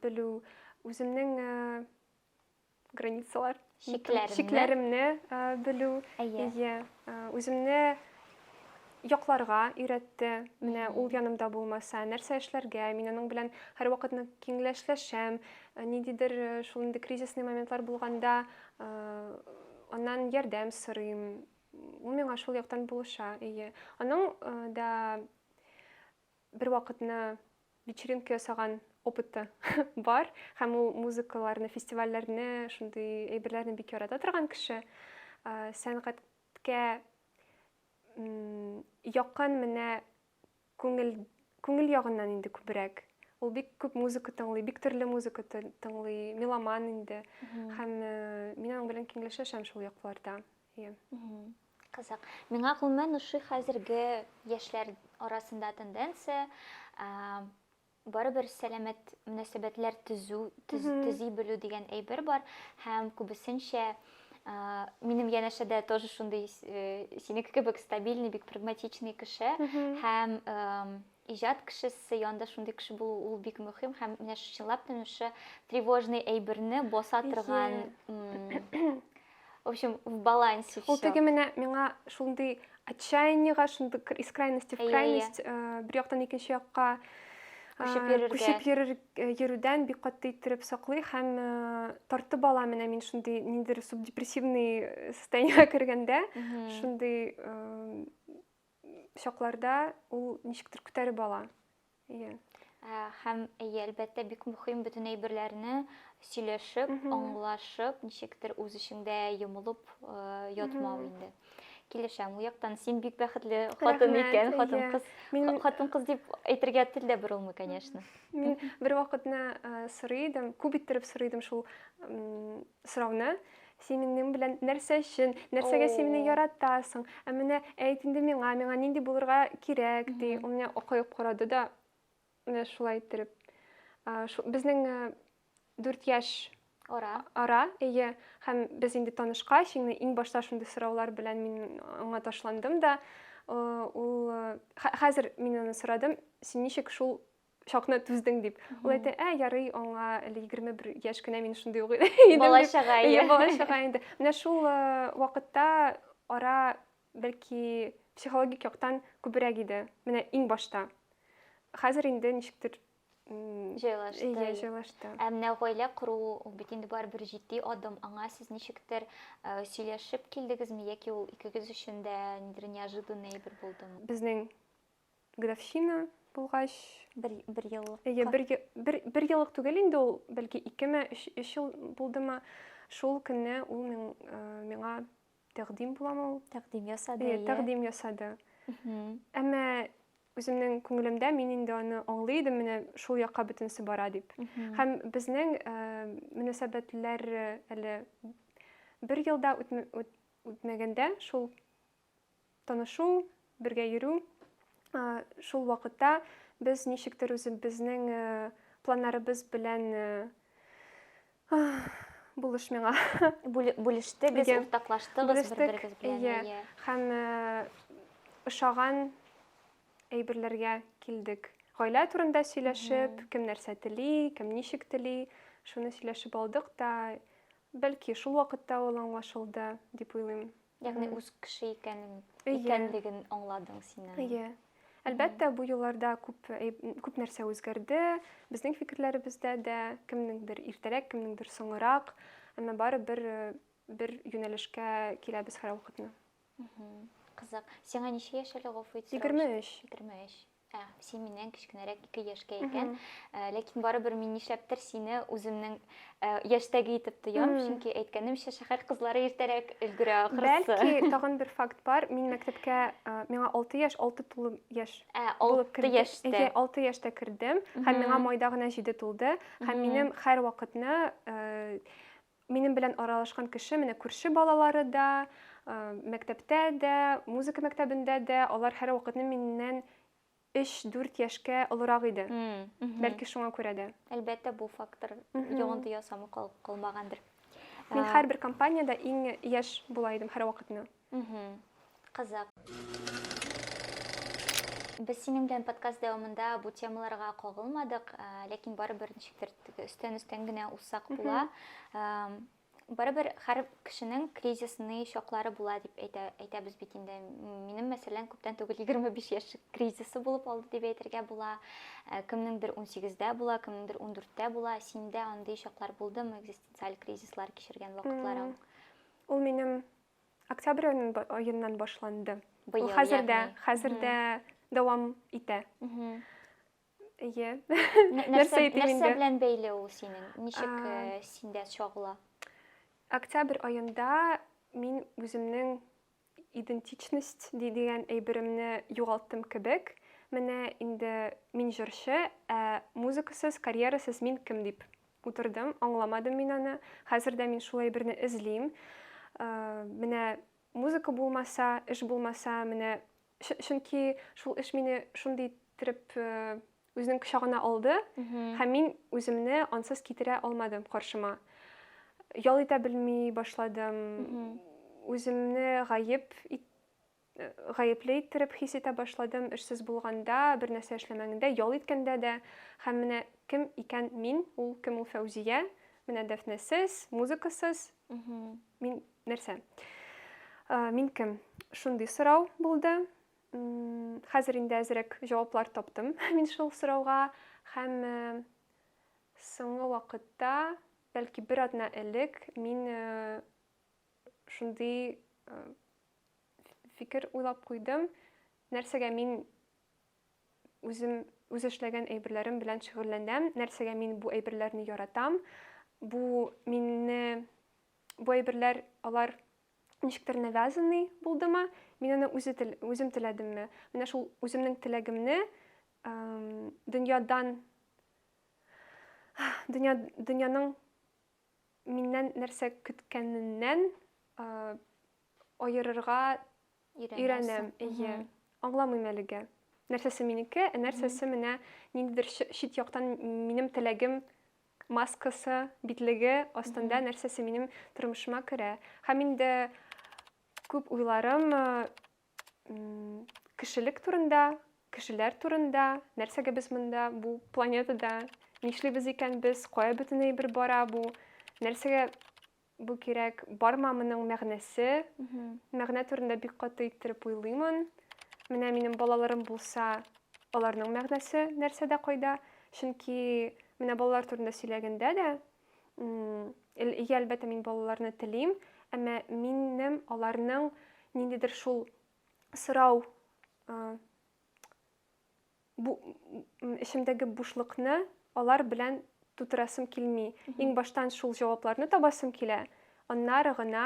белү үземнең границалар чикләремне, чикләремне ә, белү әйе yeah. yeah. үземне якларга өйрәтте менә ул янымда булмаса нәрсә эшләргә мин аның белән һәрвакыт киңләшләшәм ниндидер шул инде кризисный моментлар булганда аннан ярдәм сорыйм ул миңа шул яктан булыша әйе аның да Бервакытны вечеринка ясаган опыты бар, һәм ул музыкаларны, фестивальләрне, шундый әйберләрне бик ярата торган кеше. Сәнгатькә якын менә күңел күңел ягыннан инде күбрәк. Ул бик күп музыка тыңлый, бик төрле музыка тыңлый, меломан инде. Һәм мин аның белән киңләшәшәм шул якларда. Кызык. Миңа гомумән ошый хәзерге яшьләр арасында тенденция, барыбер сәламәт мөнәсәбәтләр төзү, төзи белү дигән әйбер бар һәм күбесенчә минем янәшәдә тоже шундый синеке кебек стабильный, бик прагматичный кеше һәм Иҗат кешесе янында шундый кеше булу ул бик мөһим һәм менә чынлап та шушы тревожный әйберне баса торган в общем в балансе все. Ул теге менә миңа шундый отчаяниега шундый из крайности в крайность бер яктан икенче якка күчеп йөрергә күчеп йөрер йөрүдән бик каты иттереп саклый һәм тартып ала менә мин шундый ниндидер субдепрессивный состояниегә кергәндә шундый чакларда ул ничектер күтәреп ала. Әйе. Ә, һәм әйе, әлбәттә, бик мөһим бөтен әйберләрне сөйләшеп, аңлашып, ничектер үз эчеңдә йомылып э, ятмау инде. Килешәм, ул яктан син бик бәхетле хатын икән, хатын кыз. Мин хатын кыз дип әйтергә тел дә борылмый, конечно. Мин бер вакытны э, сорый идем, күп иттереп сорый идем шул сорауны, син минем белән нәрсә өчен, нәрсәгә син мине яратасың, ә менә әйт инде миңа, миңа нинди булырга кирәк, ди. Ул менә акаеп карады да, менә шулай иттереп. Безнең дүрт яшь ара, ара әйе, һәм без инде танышкач, инде иң башта шундый сораулар белән мин аңа ташландым да, ул хәзер мин аны сорадым, син ничек шул чакны түздең дип ул әйтә ә ярый аңа әле егерме бер яшь кенә мин шундый ук идем бала чага иә бала чага инде менә шул вакытта ара бәлки психологик яктан күбрәк иде менә иң башта хәзер инде ничектер җайлашты иә җайлашты ә менә гаилә кору ул бит инде барыбер җитди адым аңа сез ничектер сөйләшеп килдегезме яки ул икегез өчен дә нидер неожиданный әйбер булдымы безнең Графщина булгач, бер бер еллык. Әйе, бер бер бер еллык түгел инде ул, бәлки 2 ме, 3 ел булдымы. Шул көнне ул миңа тәкъдим буламы ул? Тәкъдим ясады. Әйе, тәкъдим ясады. Әмма үземнең күңелемдә мин инде аны аңлый идем менә шул якка бөтенесе бара дип һәм безнең э, мөнәсәбәтләр э, әле бер елда үтмәгәндә шул танышу, бергә йөрү. Шул вакытта без ничектер үзебезнең планнарыбыз белән булыш миңа. Бүлештегез, уртаклаштыгыз бер-берегез белән. Һәм ошаган әйберләргә килдек. Гаилә турында сөйләшеп, кем нәрсә тели, кем ничек тели, шуны сөйләшеп алдык та, бәлки шул вакытта ул аңлашылды, дип уйлыйм. Ягъни үз кеше икәнен икәнлеген аңладың син. Әйе. Әлбәттә, бу елларда күп күп нәрсә үзгәрде. Безнең фикерләребездә дә кемнеңдер иртәрәк, кемнеңдер соңрак, әмма бары бер бер юнәлешкә киләбез һәрвакытны. Кызык. Сиңа ничә яшь әле, гафу итсәң? 23. 23. Ә, син миннән кечкенәрәк ике яшькә икән. Ә, ләкин барыбер мин нишләптер сине үземнең ә, яшьтәге итеп тоям, чөнки әйткәнемчә, шәһәр кызлары иртәрәк өлгерә ахрысы. Бәлки тагын бер факт бар. Мин мәктәпкә ә, миңа 6 яшь, 6 тулы яшь. Ә, 6 яшьтә. 6 яшьтә кердем, һәм миңа майда гына 7 тулды, һәм минем һәр вакытны ә, Минем белән аралашкан кеше менә күрше балалары да, мәктәптә дә, музыка мәктәбендә дә, алар һәрвакытны миннән 3-4 яшькә олырак иде. Бәлки шуңа күрә дә. Әлбәттә, бу фактор йогынты ясамый калмагандыр. Мин һәрбер компаниядә иң яшь була идем һәрвакытны. Мхм. Кызык. Без синең белән подкаст дәвамында бу темаларга кагылмадык, ә, ләкин барыбер ничектер теге өстән-өстән генә узсак була. Ам, Барыбер һәр кешенең кризисный чаклары була дип әйтә, әйтәбез бит инде. М, Минем, мәсәлән, күптән түгел 25 яшь кризисы булып алды дип әйтергә була. Ә, Кемнеңдер 18-дә була, кемнеңдер 14-тә була. Синдә андый чаклар булдымы, экзистенциаль кризислар кичергән вакытларың? Ул минем Октябрь аеннан башланды. Быел, Ул хәзердә, ягъни. хәзердә дәвам итә. Әйе. Нәрсә итим инде? Нәрсә белән бәйле ул синең? Ничек э, синдә чагыла? Октябрь аенда мин үземнең идентичность дигән әйберемне югалттым кебек. Менә инде мин җырчы, ә музыкасыз, карьерасыз мин кем дип Утырдым, аңламадым мин аны. Хәзер дә мин шул әйберне эзлим. Э, менә музыка булмаса, эш булмаса, менә чөнки шул эш мине шундый иттереп э, үзенең кочагына алды һәм мин үземне ансыз китерә алмадым каршыма ял итә белми башладым үземне гаеп гаепле иттереп хис итә башладым, эшсез булганда, бернәрсә эшләмәгәндә, ял иткәндә дә. Һәм менә кем икән мин, ул кем ул Фәүзия? Менә Дәфнәсез, музыкасыз. Мин нәрсә? Мин кем? Шундый сорау булды. Хәзер инде әзрәк җаваплар таптым мин шул сорауга һәм соңгы вакытта, бәлки бер атна элек, мин шундый фикер уйлап куйдым, нәрсәгә мин үзем үз эшләгән әйберләрем белән шөгыльләнәм, нәрсәгә мин бу әйберләрне яратам, бу минне бу әйберләр алар ничектер навязанный булдымы, мин аны үзе тел, үзем теләдемме? Менә шул үземнең теләгемне дөньядан дөнья, дөньяның миннән нәрсә көткәненнән аерырга өйрәнәм. Әйе. Аңламыйм әлегә. Нәрсәсе минеке, ә нәрсәсе менә ниндидер чит яктан минем теләгем маскасы, битлеге астында нәрсәсе минем тормышыма керә. Һәм инде күп уйларым Кешелек турында, кешеләр турында, нәрсәгә без монда бу планетада нишлибез икән без, кая бөтен әйбер бара бу, нәрсәгә бу кирәк, барма моның мәгънәсе. Мәгънә турында бик каты иттереп уйлыймын. Менә минем балаларым булса, аларның мәгънәсе нәрсәдә, кайда? Чөнки менә балалар турында сөйләгәндә дә, Иә, әлбәттә, мин балаларны телим, әмма минем аларның ниндидер шул сорау бу эчемдәге бушлыкны алар белән тутырасым килми. Иң баштан шул җавапларны табасым килә. Аннары гына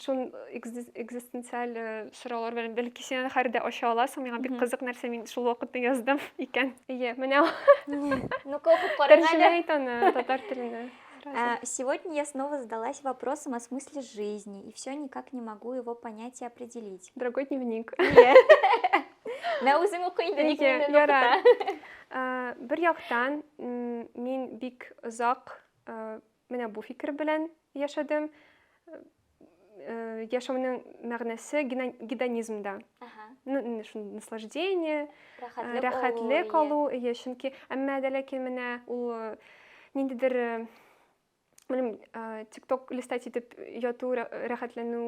шул экзистенциаль э, сораулар белән бәлки син аны хәрдә ача аласың миңа бик кызык нәрсә мин шул вакытны яздым икән иә менә ну-ка укып караң әле ит аны татар теленә а, Сегодня я снова задалась вопросом о смысле жизни, и все никак не могу его понять и определить. Дорогой дневник. Мә үзең укы инде, ник миннән укыта. Бер яктан, мин бик озак Менә бу фикер белән яшәдем. Яшәүнең мәгънәсе гедонизмда. Ну, наслаждение, рәхәтлек алу, иә, чөнки әмма дә ләкин менә ул ниндидер белмим, TikTok листать итеп яту, рәхәтләнү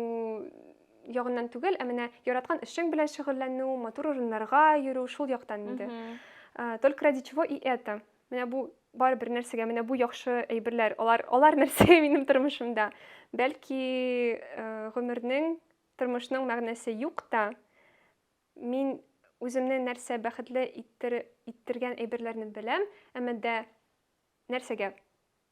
ягыннан түгел, ә менә яраткан эшең белән шөгыльләнү, матур урыннарга йөрү, шул яктан инде. Только ради чего и это? Менә бу бар бер нәрсәгә, менә бу яхшы әйберләр, алар, алар нәрсә минем тормышымда. Бәлки э, гомернең, тормышның мәгънәсе юк та, мин үземне нәрсә бәхетле иттер, иттергән әйберләрне беләм, әмма дә нәрсәгә?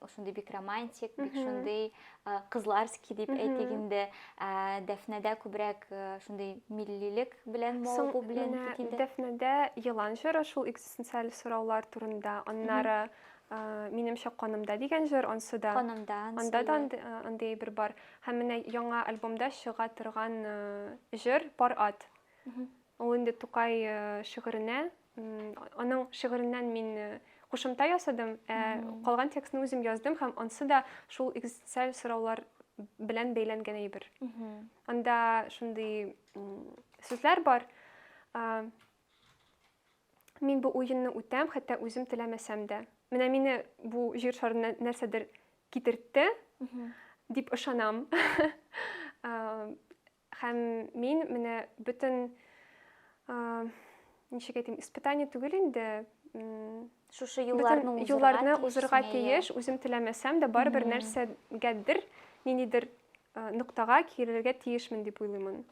ошондый бик романтик бик шундый кызларский дип әйтик инде дәфнәдә күбрәк шундый миллилек белән мавыгу белән дәфнәдә елан җыры шул экзистенциаль сораулар турында аннары минемчә канымда дигән җыр ансы да канымда анда да андый әйбер бар һәм менә яңа альбомда чыга торган җыр пар ат ул инде тукай шигыренә аның шигыреннән мин э, кушымта ясадым ә калган текстны үзем яздым һәм ансы да шул экзистенциаль сораулар белән бәйләнгән әйбер анда шундый сүзләр бар мин бу уенны үтәм хәтта үзем теләмәсәм дә менә мине бу җир шарына нәрсәдер китертте дип ышанам Һәм мин менә бөтен, ничек әйтим, испытание түгел инде, шушы юлларны узырга юлларны узырга тиеш, үзем теләмәсәм дә барыбер нәрсәгәдер, ниндидер ноктага килергә тиешмен дип уйлыймын.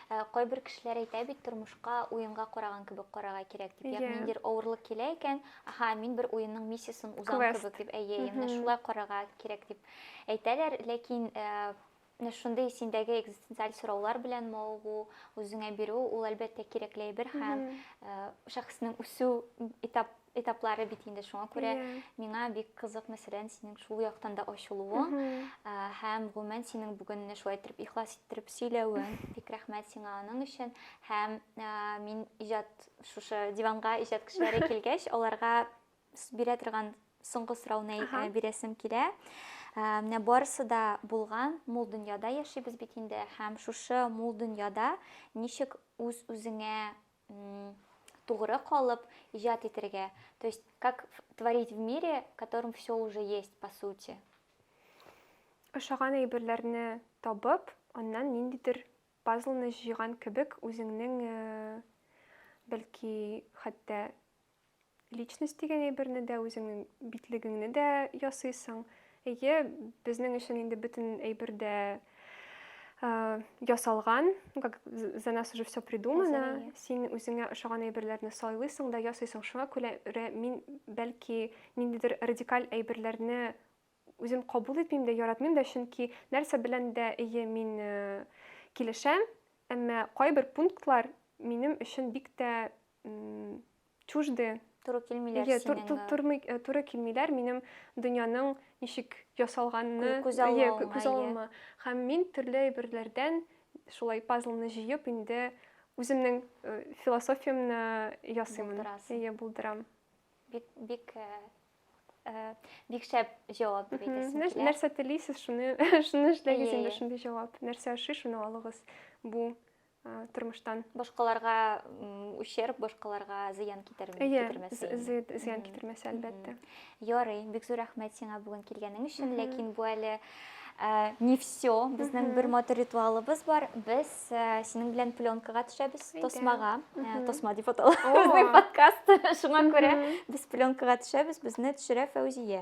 Ә, кайбер кешеләр әйтә бит тормышка уенга караган кебек карарга кирәк дип. Ягъни ниндидер авырлык килә икән, аха, мин бер уенның миссиясын узам кебек дип, әйе, менә шулай карарга кирәк дип әйтәләр, ләкин Менә шундый синдәге экзистенциаль сораулар белән мавыгу, үзеңә бирү, ул әлбәттә кирәкле әйбер һәм э, шәхеснең үсү этап этаплары бит инде шуңа күрә yeah. Иә. миңа бик кызык мәсәлән синең шул яктан да ачылуың mm -hmm. Ә, һәм гомумән синең бүген менә шулай итеп ихлас иттереп сөйләвең бик рәхмәт сиңа аның өчен һәм ә, мин иҗат шушы диванга иҗат кешеләре килгәч аларга бирә торган соңгы сорауны э, бирәсем килә. Э, менә барысы да булган мул дөньяда яшибез бит инде һәм шушы мул дөньяда ничек үз үзеңә тугры калып иҗат итәргә то есть как творить в мире в котором все уже есть по сути ошаган әйберләрне табып аннан ниндидер пазлны җыйган кебек үзеңнең э, бәлки хәтта Личность дигән әйберне дә, үзеңнең битлегеңне дә ясыйсың. Әйе, безнең өчен инде бөтен әйбер дә Э, ясалган, ну как за нас уже все придумано, син үзеңә ошаган әйберләрне сайлыйсың да ясыйсың. Шуңа күрә мин бәлки ниндидер радикаль әйберләрне үзем кабул итмим дә, яратмыйм да, чөнки нәрсә белән дә әйе мин э, килешәм, әмма кайбер пунктлар минем өчен бик тә чужды туры килмиләр yeah, синең тур, тур, э, туры килмиләр минем дөньяның ничек ясалганны күз алуыма һәм мин төрле әйберләрдән шулай пазлны җыеп инде үземнең э, философиямне ясыймын иә булдырам бик бик э, бик шәп җавап дип әйтәсең килә нәрсә телисез шуны шуны эшләгез инде шундый җавап нәрсә ошый шуны алыгыз бу тормыштан. Башкаларга ущерб, башкаларга зыян китермәс. Әйе, зыян китермәс, әлбәттә. Ярый, бик зур рәхмәт сиңа бүген килгәнең өчен, ләкин бу әле Э, не все безнең бер матур ритуалыбыз бар без э, синең белән пленкага төшәбез тосмага э, тосма дип атала подкаст шуңа күрә без пленкага төшәбез безне төшерә фәүзия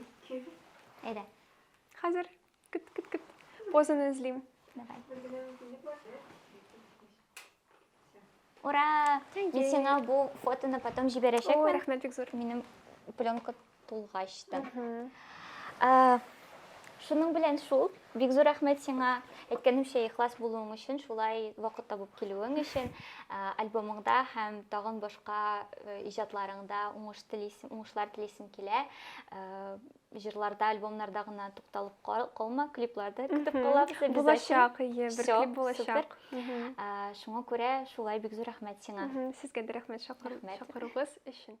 Ике. Әйдә. Хәзер кет кет кет. Позаны эзлим. Давай. Ура! Мин сиңа бу фотоны потом җибәрәчәкмен. Ой, рәхмәт бик зур. Минем пленка тулгач та. Шуның белән шул. Бик зур рәхмәт сиңа, әйткәнемчә, ихлас булуың өчен, шулай вакыт табып килүең өчен. Ә, Альбомыңда һәм тагын башка э, иҗатларыңда уңыш телисем, уңышлар телисем килә. Ә, Җырларда, альбомнарда гына тукталып кал- калма, клипларда көтеп Мгм. калабыз обязательно. Булачак, ие, бер Всё, клип булачак. Мгм. Ә, Шуңа күрә шулай бик зур рәхмәт сиңа. Мгм. Сезгә дә рәхмәт чакыру- Рәхмәт. чакыруыгыз өчен.